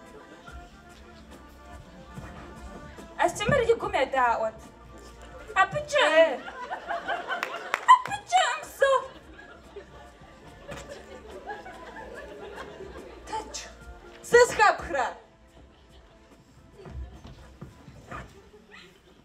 [SPEAKER 8] Астемыр и гум едаӏуэт. Абы кӏэм! Абы кӏэм со! Тэдж, сызэхэпхрэ?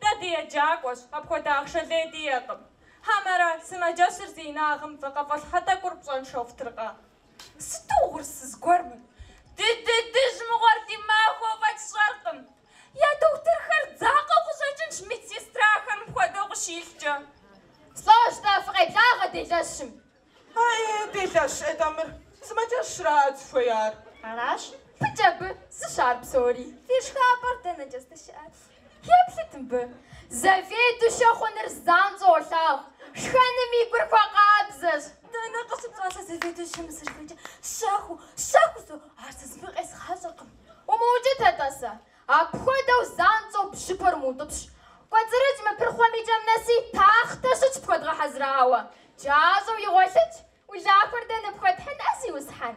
[SPEAKER 4] Дэ
[SPEAKER 8] деджакӏуэщ, апхуэдэ ахъшэ лей диӏэкъым. Хьэмэрэ, сымаджэщыр зи инагъым вакъэфӏэлъхьэ тӏэкӏур пщӏэншэу фтыркъэ? Сыту угъурсыз гуэр мыр! Ди дыдыжь мыгъуэр ди махуэу фӏэкӏ сщӏэркъым. Я дохутырхэр дзакъэу къыщӏэкӏынщ медсестрахэр мыпхуэдэу къыщилъкӏэ. Слӏожь-тӏэ,
[SPEAKER 4] фыкъеблагъэ делэщым.
[SPEAKER 8] Аи, делэщ, атӏэ мыр, сымаджэщрат зыхуеяр.
[SPEAKER 4] Аращ, фыкӏэ абы зыщ ар псори. Фи шхапӏэр дэнэкӏэ здыщыӏэр? Еплъыт мыбы. Заведующэ хъуныр занщӏэу олъагъу, шхэным и гур хуэкъабзэщ. Дэнэ къыщыпщӏа сэ заведующэм мысырыхуейкӏэ? Щэхуу, щэхуу сэ, ар сэ зыми къезгъащӏэркъым. Умыукӏыт-атӏэ сэ. Апхуэдэу занщӏэу бжьыпэр мыутӏыпщ. Кӏуэцӏрыкӏ мы пырхъуэм и кӏэм нэси тахътэ щытщ пхуэдгъэхьэзырауэ. Джащӏэу игъуэлъыкӏ, Улахуэр дэ ныпхуэтхьын, а зиусхьэн?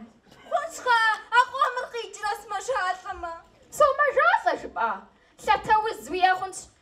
[SPEAKER 4] Хъунщ, хъа, а къомыр къикӏрэ сымэжалӏэмэ? Сомэжалӏэ, жыпӏа? Лъатэ уз уиӏэ хъунщ,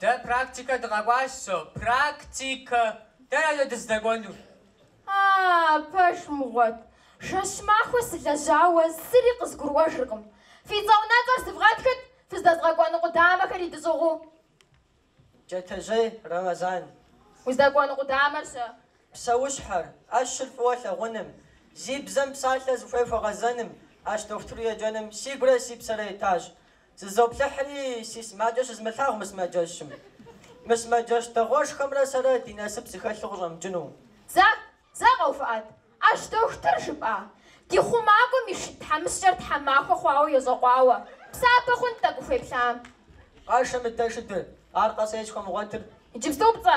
[SPEAKER 11] Дэ практикэ дыкъэкӏуащ, со. Практикэ! Дэнэ дыздэкӏуэнур?
[SPEAKER 4] А-а, пэж мыгъуэт. Жэщ махуэ сылэжьауэ зыри къызгурыӏуэжыркъым. Фи цӏэ унэцӏэр сывгъэтхыт, фыздэзгъэкӏуэну къудамэхэр
[SPEAKER 7] идыщӏыгъуу. Джэтэжьей Рэмэзан.
[SPEAKER 4] Уздэкӏуэну къудамэр щэ.
[SPEAKER 7] Псэущхьэр, ӏэщыр фӏыуэ лъагъуным, зи бзэ мыпсалъэ зыхуей хуэгъэзэным, ӏэщ дохутыру еджэным си гурэ си псэрэ етащ. Зызоплъыхьри, си сымаджэ щызмылъагъу мы сымаджэщым. Мы сымаджэщ дэгъуэшхуэмрэ сэрэ ди насып зыхэлъу къыщӏэмыкӏыну. Зэ, зэ
[SPEAKER 4] къэувыӏэт, ӏэщ дохутыр жыпӏа? Ди хъумакӏуэм и шыд тхьэмыщкӏэр тхьэмахуэ хъуауэ йощӏэкъуауэ. Псапэ хъунт тӏэкӏу ухуеплъам. Къашэ
[SPEAKER 7] мыдэ шыдыр, аркъэ сэ схуэмыгъуэтыр. Иджыпступцӏэ,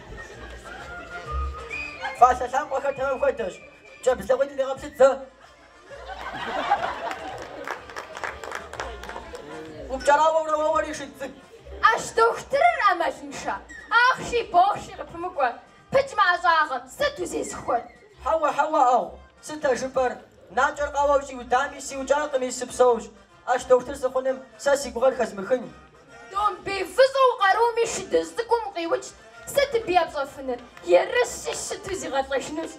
[SPEAKER 7] Фӏалъэ лъакъуэхэр тэмэм хуэдэщ. Кӏэбдз лъакъуитӏым дегъэплъыт зэ. Упкӏэрауэурэ уэуэри шыд цӏыкӏу. Ӏэщ дохутырыр
[SPEAKER 4] ӏэмалыншэ. Ахъши бохъши къыпымыкӏуэ. Пыкӏ мы ӏэщӏагъэм сыт узезыхуэр? Хьэуэ,
[SPEAKER 7] хьэуэ, ӏагъу, сыт а жыпӏэр? Накӏэр къауэу щӏиудами, сиукӏакъыми, сыпсэущ. Ӏэщ дохутыр сыхъуным сэ си гугъэр хэзмыхын.
[SPEAKER 4] Домбей фӏыщӏэу къарум и шыдыжь цӏыкӏум къиукӏ. Сыт абы епщӏэфыныр? Ерыщу щыту зигъэлӏэжынущ.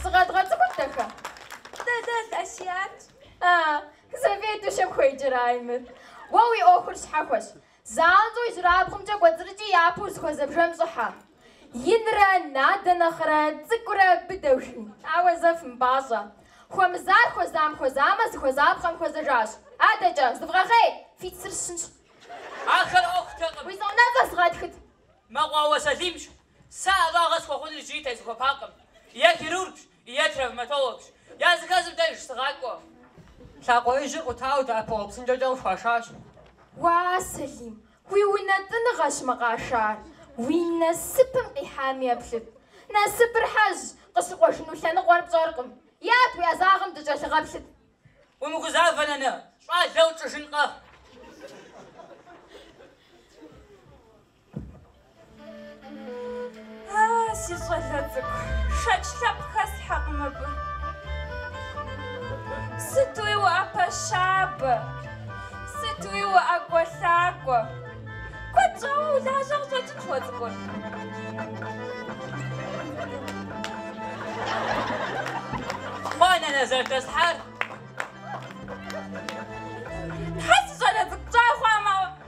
[SPEAKER 4] Зыкъэдгъэцӏыхут, дахэ?
[SPEAKER 2] Дэлэл Асиятщ.
[SPEAKER 4] А, заведующэм хуеджэрай мыр? Уэ уи ӏуэхур щхьэхуэщ. Занщӏэу ижьырабгъумкӏэ кӏуэцӏрыкӏи япэу узыхуэзэ бжэм щӏыхьэ. Инрэ надэ нэхърэ цӏыкӏурэ быдэ, жи. Ауэ зэ фымыпӏащӏэ. Хуэмызар хуэзам хуэзамэ, зыхуэзапхъэм хуэзэжащ. Адэкӏэ, зывгъэхъей! Фи цыр сщынщ. Ахэр
[SPEAKER 11] ӏуэхутэкъым. Уи цӏэ унэцӏэр сыгъэтхыт.
[SPEAKER 4] Мэкъуауэ
[SPEAKER 11] Сэлимщ. Сэ ӏэщӏагъэ схуэхъуныр иджыри тезыхуэпакъым. Е хирургщ, е травматологщ. Языхэзым дэж сыгъакӏуэ. Лъакъуэ
[SPEAKER 7] ижьыр къутауэ дэӏэпыкъуэгъу псынкӏэкӏэ къыхуашащ. Уа,
[SPEAKER 4] Сэлим, уи унэтӏыныгъэщ мы къашар. Уи насыпым къихьами еплъыт. Насыпыр хьэжьщ, къыщыкъуэжыну лъэныкъуэр пщӏэркъым. Ят, уи ӏэзагъэм дыкӏэлъыгъэплъыт. Умыгузавэ,
[SPEAKER 11] нанэ, щӏалэ утщӏыжынкъэ.
[SPEAKER 2] А, си щӏалэ цӏыкӏу, шэч лъэпкъ хэслъхьэкъым абы. Сытуи уӏэпэщабэ, сытуи уӏэкӏуэлъакӏуэ. Куэд щӏауэ улажьэ къыщӏэкӏынщ уэ цӏыкӏур.
[SPEAKER 11] Хъуа,
[SPEAKER 2] нанэ, зэрыдэслъхьар?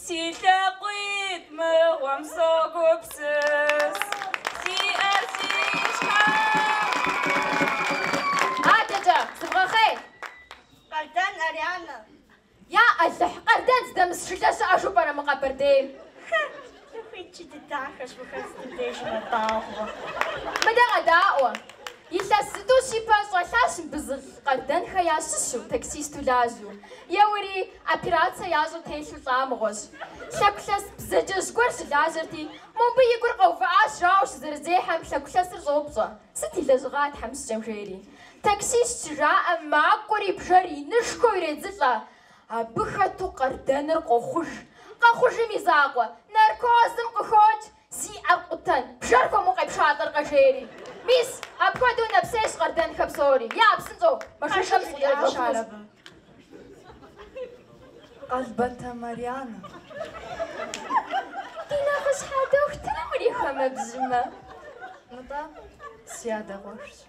[SPEAKER 2] Си лъакъуитӏ мыгъуэм согупсыс, сиӏэр си щхьэм.
[SPEAKER 4] Адэкӏэ, зывгъэхъей!
[SPEAKER 2] Къардэн Арианэ. Я
[SPEAKER 4] Алыхь, Къардэн здэмыс жылэ щыӏэжу пӏэрэ мы Къэбэрдейм? Хэ!
[SPEAKER 2] Цӏыху ткӏий дыдэхэщ мыхэр
[SPEAKER 4] сытым дежи мэдауэ. Мыдэ
[SPEAKER 2] къэдаӏуэ.
[SPEAKER 4] Илъэс зытӏущ ипэ щӏэлъащ мыбы зы лӏы Къардэнхэ ящыщу, таксисту лажьэу. Еуэри, операцэ ящӏу телъу лӏа мыгъуэщ. Лъэгулъэс бзаджэжь гуэр щылажьэрти, мо мыбы и гур къэувыӏащ жауэ щызэрызехьэм, лъэгулъэсыр щӏоупщӏэ, сыт и лэжьыгъа тхьэмыщкӏэм жери. Таксист щыжаӏэм макӏуэри бжэр инышхуэу иредзылӏэ. Абы хэту Къардэныр къохъуж. Къэхъужым и закъуэ, наркозым къыхокӏ, зи ӏэр къутэн, бжэр хуэму къепшалӏэркъэ, жери. Мис, апхуэдэу нэпсейщ Къардэнхэ псори. Я, псынщӏэу, махъшэм сыкъыдэкӏуэщ ар
[SPEAKER 6] абы. Къалбатэ
[SPEAKER 4] Марьянэ. Ди нэхъыщхьэ дохутырым урихэмэ, бжьымэ.
[SPEAKER 6] Нтӏэ, си адэ къуэшщ.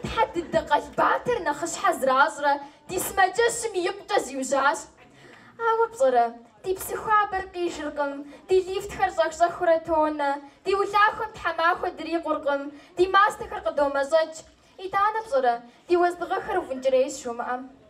[SPEAKER 4] Тхьэ дыдэ Къалбатэр нэхъыщхьэ зэращӏрэ ди сымаджэщым икъукӏэ зиужьащ. Ауэ пщӏэрэ, ди псы хуабэр къижыркъым, ди лифтхэр щӏэх-щӏэхыурэ тонэ, ди улахуэм тхьэмахуэ дрикъуркъым, ди мастэхэр къыдомэщӏэкӏ. Итӏанэ пщӏэрэ, ди уэздыгъэхэр уфӏынкӏрейщ жумыӏэм?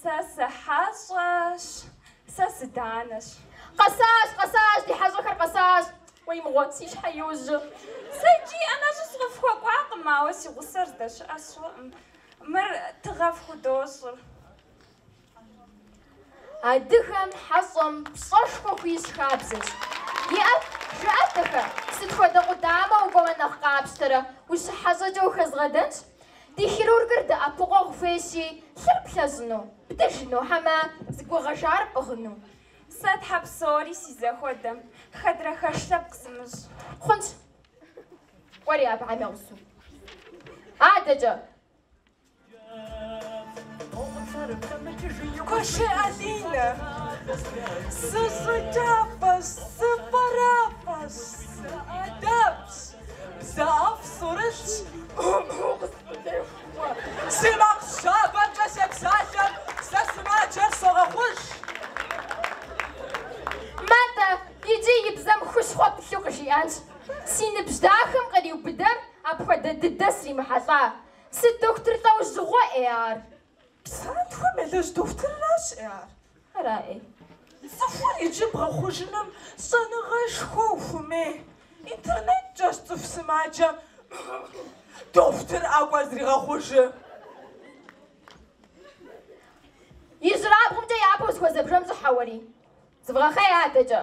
[SPEAKER 6] Сэ сыхьэщӏэщ, сэ сыданэщ.
[SPEAKER 4] Къэсащ, къэсащ, ди хьэщӏэхэр къэсащ. Уей, мыгъуэ, си щхьэ иужьу. Сэ иджы
[SPEAKER 6] ӏэнэщӏу сыкъыфхуэкӏуакъым, ауэ си гъусэр здэщыӏэ сщӏэкъым. Мыр тыгъэ
[SPEAKER 4] фхудощӏыр. Адыгэм хьэщӏэм пщӏэшхуэ хуищӏ хабзэщ. Иӏэт, жыӏэ, дахэ, сыт хуэдэ къудамэ укӏуэмэ нэхъ къапщтэрэ, ущыхьэщӏэкӏэ ухэзгъэдэнщ. Ди хирургыр дэӏэпыкъуэгъу хуейщи, лъыр плъэщӏыну, бдыжыну хьэмэ зэгуэгъэжар пӏыгъыну. Сэ тхьэ
[SPEAKER 6] псори си зэхуэдэм, хэдрэ хэш лъэпкъ сымыщӏ. Хъунщ.
[SPEAKER 4] Кӏуэ уэри абыхэм я гъусэу.
[SPEAKER 8] Адэкӏэ. Куэшей Алинэ, сыщӏыкӏафӏэщ, сыфӏэрафӏэщ, сыӏэдэбщ. Бзэ ӏэфӏ сӏурылъщ, ӏу-ӏу къысфӏытехуэ. Си макъ щабэмкӏэ
[SPEAKER 4] сепсалъэм, сэ сымаджэр согъэхъуж. Матӏэ, иджы и бзэм хущхъуэ пылъу къыжиӏэнщ. Си ныбжь дахэм къриубыдэу апхуэдэ дыдэ сримыхьэлӏа. Сыт дохутыр лӏэужьыгъуэ ӏей ар?
[SPEAKER 8] Псантхуэм елэжь дохутырыращ ӏей ар.
[SPEAKER 4] Ара ӏей?
[SPEAKER 8] Цӏыхур иджы бгъэхъужыным щӏэныгъэшхуэ ухуэмей. Интернеткӏэщ цӏыху сымаджэм дохутыр ӏэкӏуэр
[SPEAKER 4] зригъэхъужы. Ижьырабгъумкӏэ япэу узыхуэзэ бжэм щӏыхьэ уэри. Зывгъэхъей адэкӏэ.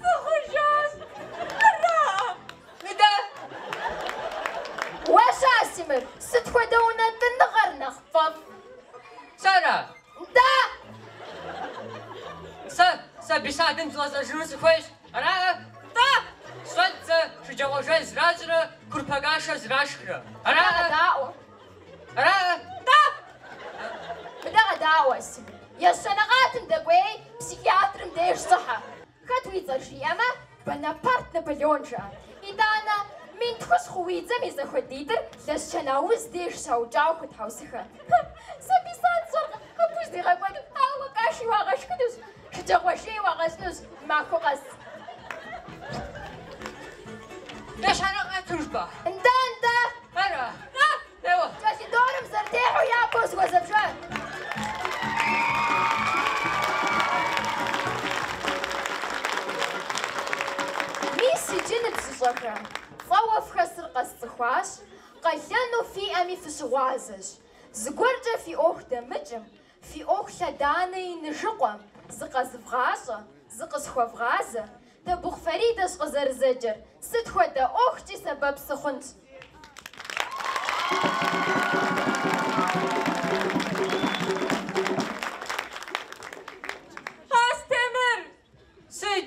[SPEAKER 11] Къыхъужащ! Ара?
[SPEAKER 4] Мыдэ! Уэ-щэ, Астемыр, сыт хуэдэ унэтӏыныгъэр нэхъ пфӏэфӏ? Сэра?
[SPEAKER 11] Нтӏэ! Сэ, сэ детсадым згъэзэжыну сыхуейщ. Ара?
[SPEAKER 8] Нтӏэ! Сщӏэт сэ
[SPEAKER 11] шэджагъуэ жей зращӏрэ курпэ кашэ зрашхрэ. Ара? Ара? Даӏуэ!
[SPEAKER 4] Ещанэ къатым дэкӏуей психиатрым деж щӏыхьэ. Хэт уи цӏэр жиӏэмэ, Бонапарт Наполеон жыӏэ. Итӏанэ, мин тхущӏ хъу уи дзэм и зэхуэдитӏыр Лэсчэн ауз деж щаукӏауэ хуэтхьэусыхэ. Сэ детсад сщӏэркъым, абы уздигъэкӏуэнур, ауэ каши уагъэшхынущ. Шэджагъуэ жеи уагъэщӏынущ махуэ
[SPEAKER 11] къэс. Ещанэ къат жыпӏа? Нтӏэ, нтӏэ.
[SPEAKER 4] Ара. А,
[SPEAKER 11] еуэ. Калидорым
[SPEAKER 4] узэрытехьэу япэу узыхуэзэ бжэр. Мис иджы ныбжьыщӏэхэ, щӏэуэ фхэсыр къэсцӏыхуащ, къалэну фиӏэми фыщыгъуазэщ. Зыгуэркӏэ фи ӏуэху дэмыкӏым, Фи ӏуэху лъэданэ иныжыкъуэм, зыкъэзывгъащӏэ, зыкъысхуэвгъазэ, Табыхъу Фаридэщ къызэрызэджэр, сыт хуэдэ ӏуэхукӏи сэбэп
[SPEAKER 8] сыхъунщ. Астемыр! Сыт?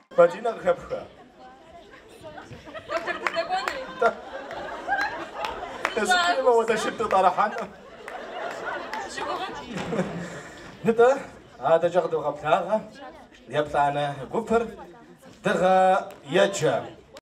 [SPEAKER 1] Бадинэ
[SPEAKER 8] къыхэпха.
[SPEAKER 1] Доктор дыздэкӏуэнуи? Дэсыпхыймэ уэ дэшыр дытӏэрыхьэну. Нтӏэ, адэкӏэ къыдогъэблагъэ еплӏанэ гупыр Дыгъэ еджэ.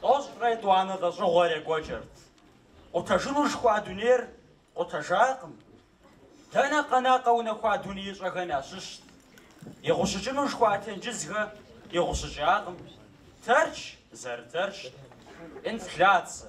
[SPEAKER 7] Тӏощӏрэ етӏуанэ лӏэщӏыгъуэр екӏуэкӏырт. Къутэжыну жыхуаӏа дунейр къутэжакъым. Дэнэ къэна къэунэхуа дунеищӏэхэм ящыщт. Игъущӏыкӏыну жыхуаӏа тенджызхэр игъущӏыкӏакъым. Тэрч зэрытэрчт. Инфляцэ.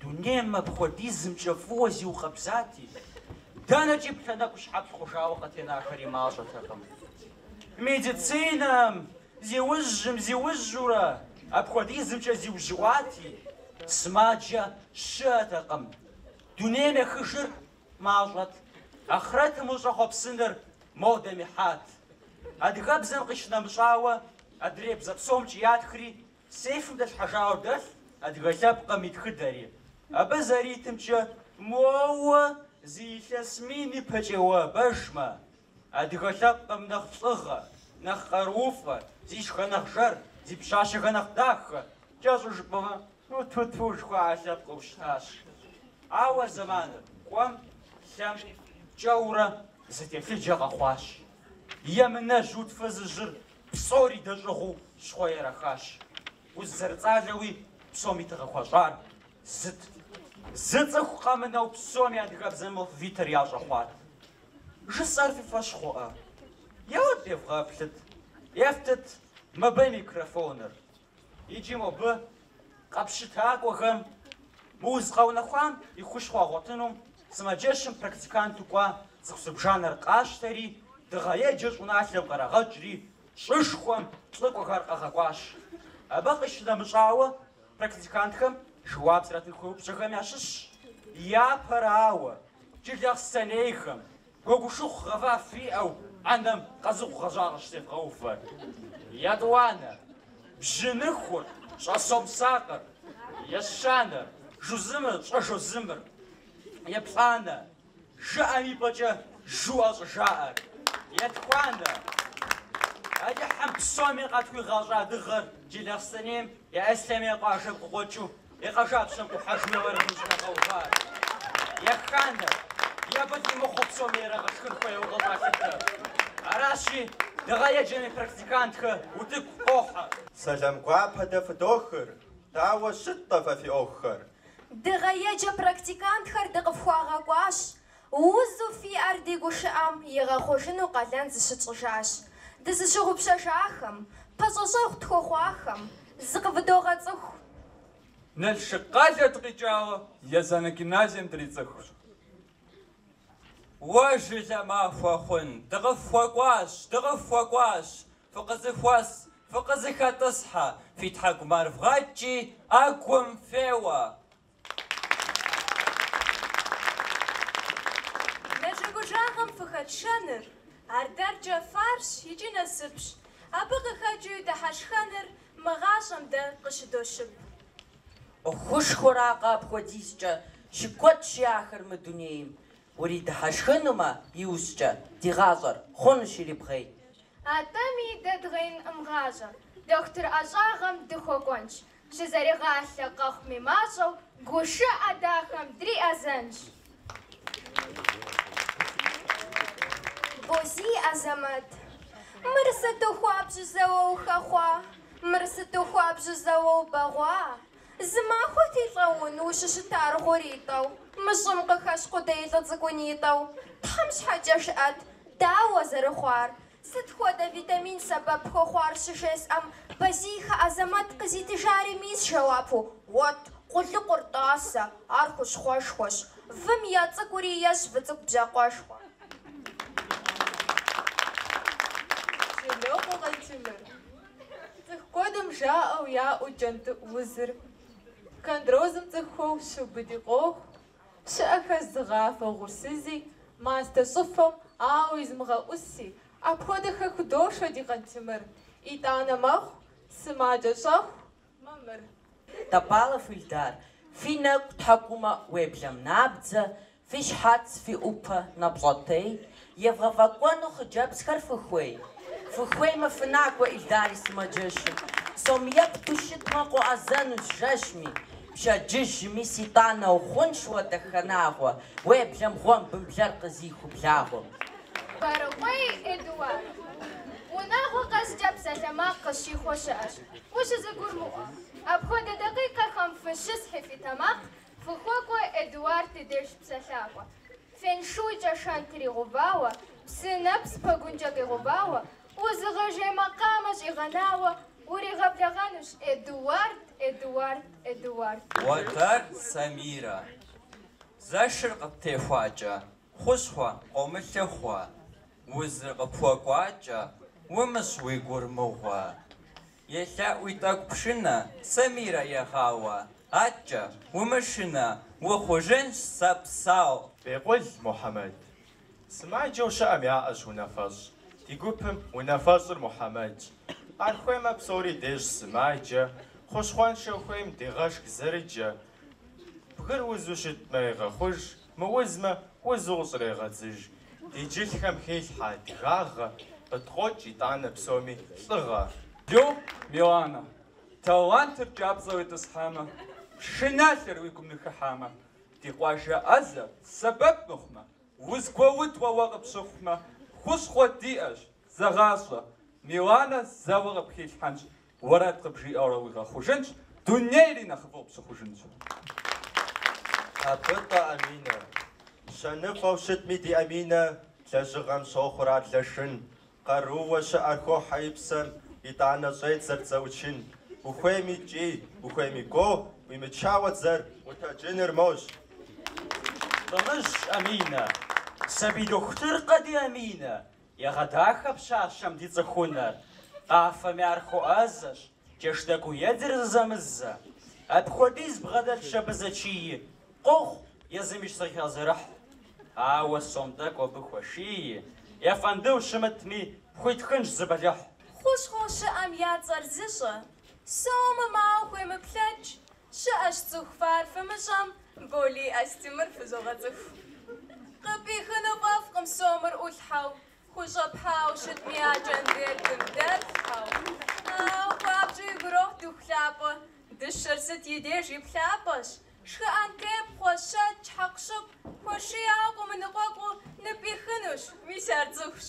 [SPEAKER 7] Дунейм апхуэдизымкӏэ фӏыуэ зиукъэбзати, дэнэкӏи плъэ нэкӏущхьэплъ хъужауэ къытенахэри мащӏэтэкъым. Медицинэм зиужьым зиужьурэ апхуэдизымкӏэ зиужьыӏуати, сымаджэ щыӏэтэкъым. Дунейм ехыжыр мащӏэт, ахърэтым ущӏэхъуэпсыныр модэм ихьат. Адыгэбзэм къищынэмыщӏауэ, адрей бзэ псомкӏи ятхри, Сейфым дэлъхьэжауэ дэлъ адыгэ лъэпкъым и тхыдэри. Абы зэритымкӏэ, моуэ зы илъэс мин ипэкӏэ уӏэбэжмэ, адыгэ лъэпкъым нэхъ лӏыгъэ, нэхъ къарууфӏэ, зи шыхэ нэхъ жэр, зи пщащэхэ нэхъ дахэ, кӏэщӏу жыпӏэмэ, ту-ту-ту жыхуаӏэ лъэпкъыу щытащ. Ауэ зэманыр кӏуэм, лъэм, пкӏэурэ зы телъыджэ къэхъуащ. Емынэжь уд фызыжьыр Псори дэщӏыгъуу щхъуэ ерахащ. Уз зэрыцӏалэуи псоми тыгъэ хуищӏар зыт. Зы цӏыху къэмынэу псоми адыгэбзэм моввитэр ящӏэ хъуат. Жысӏэр фи фэщ хъуӏэ? Еуэ, девгъэплъыт, ефтыт мыбы микрофоныр. Иджы мобы къэпщытакӏуэхэм мы уз къэунэхуам и хущхъуэ ягъуэтыну сымаджэщым практиканту кӏуа цӏыху зыбжанэр къащтэри, дыгъэ еджэ щӏыналъэм къырагъэкӏри, щӏышхуэм лӏыкӏуэхэр къагъэкӏуащ. Абы къищынэмыщӏауэ, практикантхэм жэуап зэратын хуей упщӏэхэм ящыщщ, Япэрауэ, джылахъстэнейхэм, Гуэгушыхъу гъэва фиӏэу ӏэнэм къазыхъу гъэжьа къыщӏытевгъэувэр. Етӏуанэ, бжьыныхур щӏэсомсакъыр, ещанэр, жузымыр щӏэжозымыр, еплӏанэ, жыӏэм и пӏэкӏэ жуӏэ щӏыжаӏэр, етхуанэ, Алыхьым псоми къытхуигъэщӏа дыгъэр Джылахъстэнейм я Ислъэмей къуажэм къыкъуэкӏыу И къуажапщэм къухьэжмэ уэрэ къыщӏрагъэувар? Еханэ, е быд имыхъу псоми ирагъэшхын хуейуэ къыщӏалъытэ. Аращи, дыгъэ еджэми практикантхэ утыку къохьэ. Сэлам
[SPEAKER 12] гуапэ дэ фыдохыр, дауэ щыт-тӏэ фэ фи ӏуэхухэр? Дыгъэ еджэ
[SPEAKER 4] практикантхэр дыкъыфхуагъэкӏуащ, Узу фиӏэр ди гушыӏэм игъэхъужыну къалэн зыщытщӏыжащ. Дызыщыгъупщэжахэм, пэщӏэщӏэгъу тхуэхъуахэм зыкъывыдогъэцӏыху. Налшык къалэ
[SPEAKER 11] дыкъикӏауэ Езанэ гимназием дрицӏыхущ. Уэ жылэ махуэ хъун, дыкъыфхуэкӏуащ, дыкъыфхуэкӏуащ, фыкъызыхуэс, фыкъызыхэтӏысхьэ, фи тхьэкӏумэр вгъэкӏи, ӏэгум феуэ,
[SPEAKER 6] Нэжэгужагъэм фыхэтшэныр ар дэркӏэ фарзщ икӏи насыпщ, абы къыхэкӏыу и дыхьэшхэныр мы гъащӏэм дэ къыщыдощып.
[SPEAKER 13] Хущхъуэракъэ апхуэдизкӏэ щыкуэдщи ахэр мы дунейм, уридыхьэшхынумэ иужькӏэ ди гъащӏэр хъунущ ирибгъей. Атӏэми
[SPEAKER 4] дэ дгъеинкъым гъащӏэ, дохутыр ӏэщӏагъэм дыхуэкӏуэнщ, Щызэригъалъэ къэхъуми мащӏэу гушыӏэ дахэм
[SPEAKER 2] дриӏэзэнщ. Бозий Азэмэт, Мыр сыту хуабжьу зэуэ ухэхъуа, мыр сыту хуабжьу зэуэ убэгъуа, зымахуэти, лӏэун, ущыщытар гъуритӏэу, мы щӏым къыхэщ къудей лӏы цӏыкӏунитӏэу, Тхьэм щхьэкӏэ жыӏэт, дауэ зэрыхъуар? Сыт хуэдэ витамин сэбэп хуэхъуар щыжесӏэм, Бозийхэ Азэмэт къызитыжари мис жэуапу уэт, къулыкъур, тӏасэ, ар хущхъуэшхуэщ. Вым я цӏыкӏури ещӏ выцӏыкӏу бжьакъуэшхуэ.
[SPEAKER 8] Жылокъуэ Къантемыр. Цӏыху куэдым жаӏэу яӏэу кӏэнтӏыӏу узыр, хондрозым цӏыхухэр щиубыди къохъу, Щыӏэхэщ зыгъафӏэ угъурсызи, мастэ щӏыфэм ауэ езымыгъэӏуси, апхуэдэхэ худошэ ди Къантемыр. Итӏанэ мэхъу сымаджэ щӏэхыу мамыр.
[SPEAKER 13] Топалов Ильдар, фи нэкӏу тхьэкӏумэ уеблэм набдзэ, фи щхьэц, фи ӏупэ нэпщӏэтей, Евгъэфӏэкӏуэну хъыджэбзхэр фыхуей? Фыхуеймэ, фынакӏуэ Ильдар и сымаджэщым. Сом епту щытмэ, къоӏэзэнущ жэщми, пщэдджыжь мис итӏанэ ухъунщ уэ дахэ нагъуэ, уеблэм гъуэмбым блэр къизыху благъуэ. Барыкъуей Эдуард, унагъуэ къэскӏэ
[SPEAKER 4] псалъэмакъ къыщихуэ щыӏэщ ущызэгурымыӏуэ. Апхуэдэ дакъикъэхэм фыщысхьи фи тэмакъ, фыхуэкӏуэ Эдуард ди деж псалъакӏуэ. Феншуйкӏэ шэнтыр игъэувауэ, псы нэпс пэгункӏэ къигъэувауэ, узыгъэжей макъамэ щӏигъэнауэ, уригъэблэгъэнущ, Эдуард, Эдуард, Эдуард. Уэтэр
[SPEAKER 11] Самирэ, зэшыр къыптехуакӏэ, хущхъуэ къомылъыхъуэ, узыр къыпхуэкӏуакӏэ, умыщӏ уи гур мыгъуэ. Елъэӏуи тӏэкӏу пшынэ Самирэ егъауэ, адэкӏэ умышынэ, ухъужынщ сэ псэу. Бекъул
[SPEAKER 1] Мухьэмэд. Сымаджэу щыӏэм яӏэщ унафэщӏ. Ди гупым унафэщӏыр Мухьэмэдщ. Ар хуеймэ псори дещӏ сымаджэ, хущхъуэншэу хуейм дегъэшх зэрыджэ. Бгыр узу щытмэ егъэхъуж, Мыузмэ, узу къыщӏрегъэдзыж. Ди джылхэм хелъхьэ адыгагъэ, къыткъокӏ итӏанэ псоми лӏыгъэ. Йо,
[SPEAKER 14] Миланэ, талантыр кӏапцӏэ уетӏысхьамэ, шыналъэр уи гум ныхыхьамэ, ди къуажэ ӏэзэр сэбэп мыхъумэ, узгуэудуэ уэ къыпщыхъумэ, хущхъуэ диӏэщ, зэгъащӏэ, Миланэ зэуэ къыпхилъхьэнщ. Уэрэд къыбжиӏэурэ уигъэхъужынщ, дунейри нэхъыфӏу
[SPEAKER 12] пщыхъужынщ. Абытӏэ Аминэ! Щэныфӏэу щытми ди Аминэ лэжьыгъэм щохъур ар Лашын, къарууэ щыӏэр хохьэ и псэм, итӏанэ щӏедзэр дзэ ӏучын. Ухуейми кӏий, ухуейми гуо, ӏуимычауэ дзэр утэджыныр мощӏ.
[SPEAKER 9] Тӏымыжь Аминэ! Сабий дохутыркъэ ди Аминэ! Егъэдахэ пщащэм ди цӏыхунэр, къафэми ар хуэӏэзэщ, джэш тӏэкӏуи едзыр зэзэмызэ. Апхуэдиз бгъэдэлъщ абы зэчий, къохъу, езыми щызэхигъэзэрыхь. Ауэ сом тӏэкӏу абы хуэшии, ефэндыу щымытми, пхуитхынщ зы бэлыхь. Хущхъуэ щыӏэм
[SPEAKER 6] я цӏэр зыщӏэ, сомым ауэ хуемыплъэкӏ, Щыӏэщ цӏыху фар фымыщӏэм, Болий Астемыр фызогъэцӏыху. Къыпӏихыну фӏэфӏкъым сомыр ӏулъхьэу, Хущӏэпхьауэ щытми а конвертым дэлъхьэу. Хуабжьу игу ирохь дыху лъапӏэ, Дыщэр сыт и деж и плъапӏэщ. Шхыӏэн тепхъуэ, щэкӏ, хьэкъущыкъу, Хуэшияуэ къомыныкъуэкъуу ныпӏихынущ, Мис ар цӏыхущ.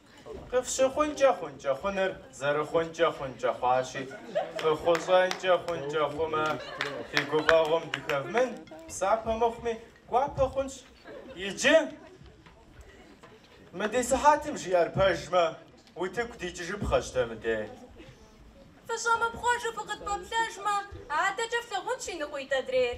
[SPEAKER 4] Къыфщыхъункӏэ
[SPEAKER 9] хъункӏэ хъуныр зэрыхъункӏэ хъункӏэ хъуащи, фыхъущӏэнкӏэ хъункӏэ хъумэ, фи гуфӏэгъуэм дыхэвмын, псапэ мыхъуми, гуапэ хъунщ. Иджы, мы ди сыхьэтым жиӏэр пэжмэ, утыку дикӏыжыпхъэщ дэ мыдей. Фыщӏэмыпхъуэжу фыкъытпэплъэжмэ,
[SPEAKER 6] адэкӏэ флъагъунщ иныкъуитӏ адрейр.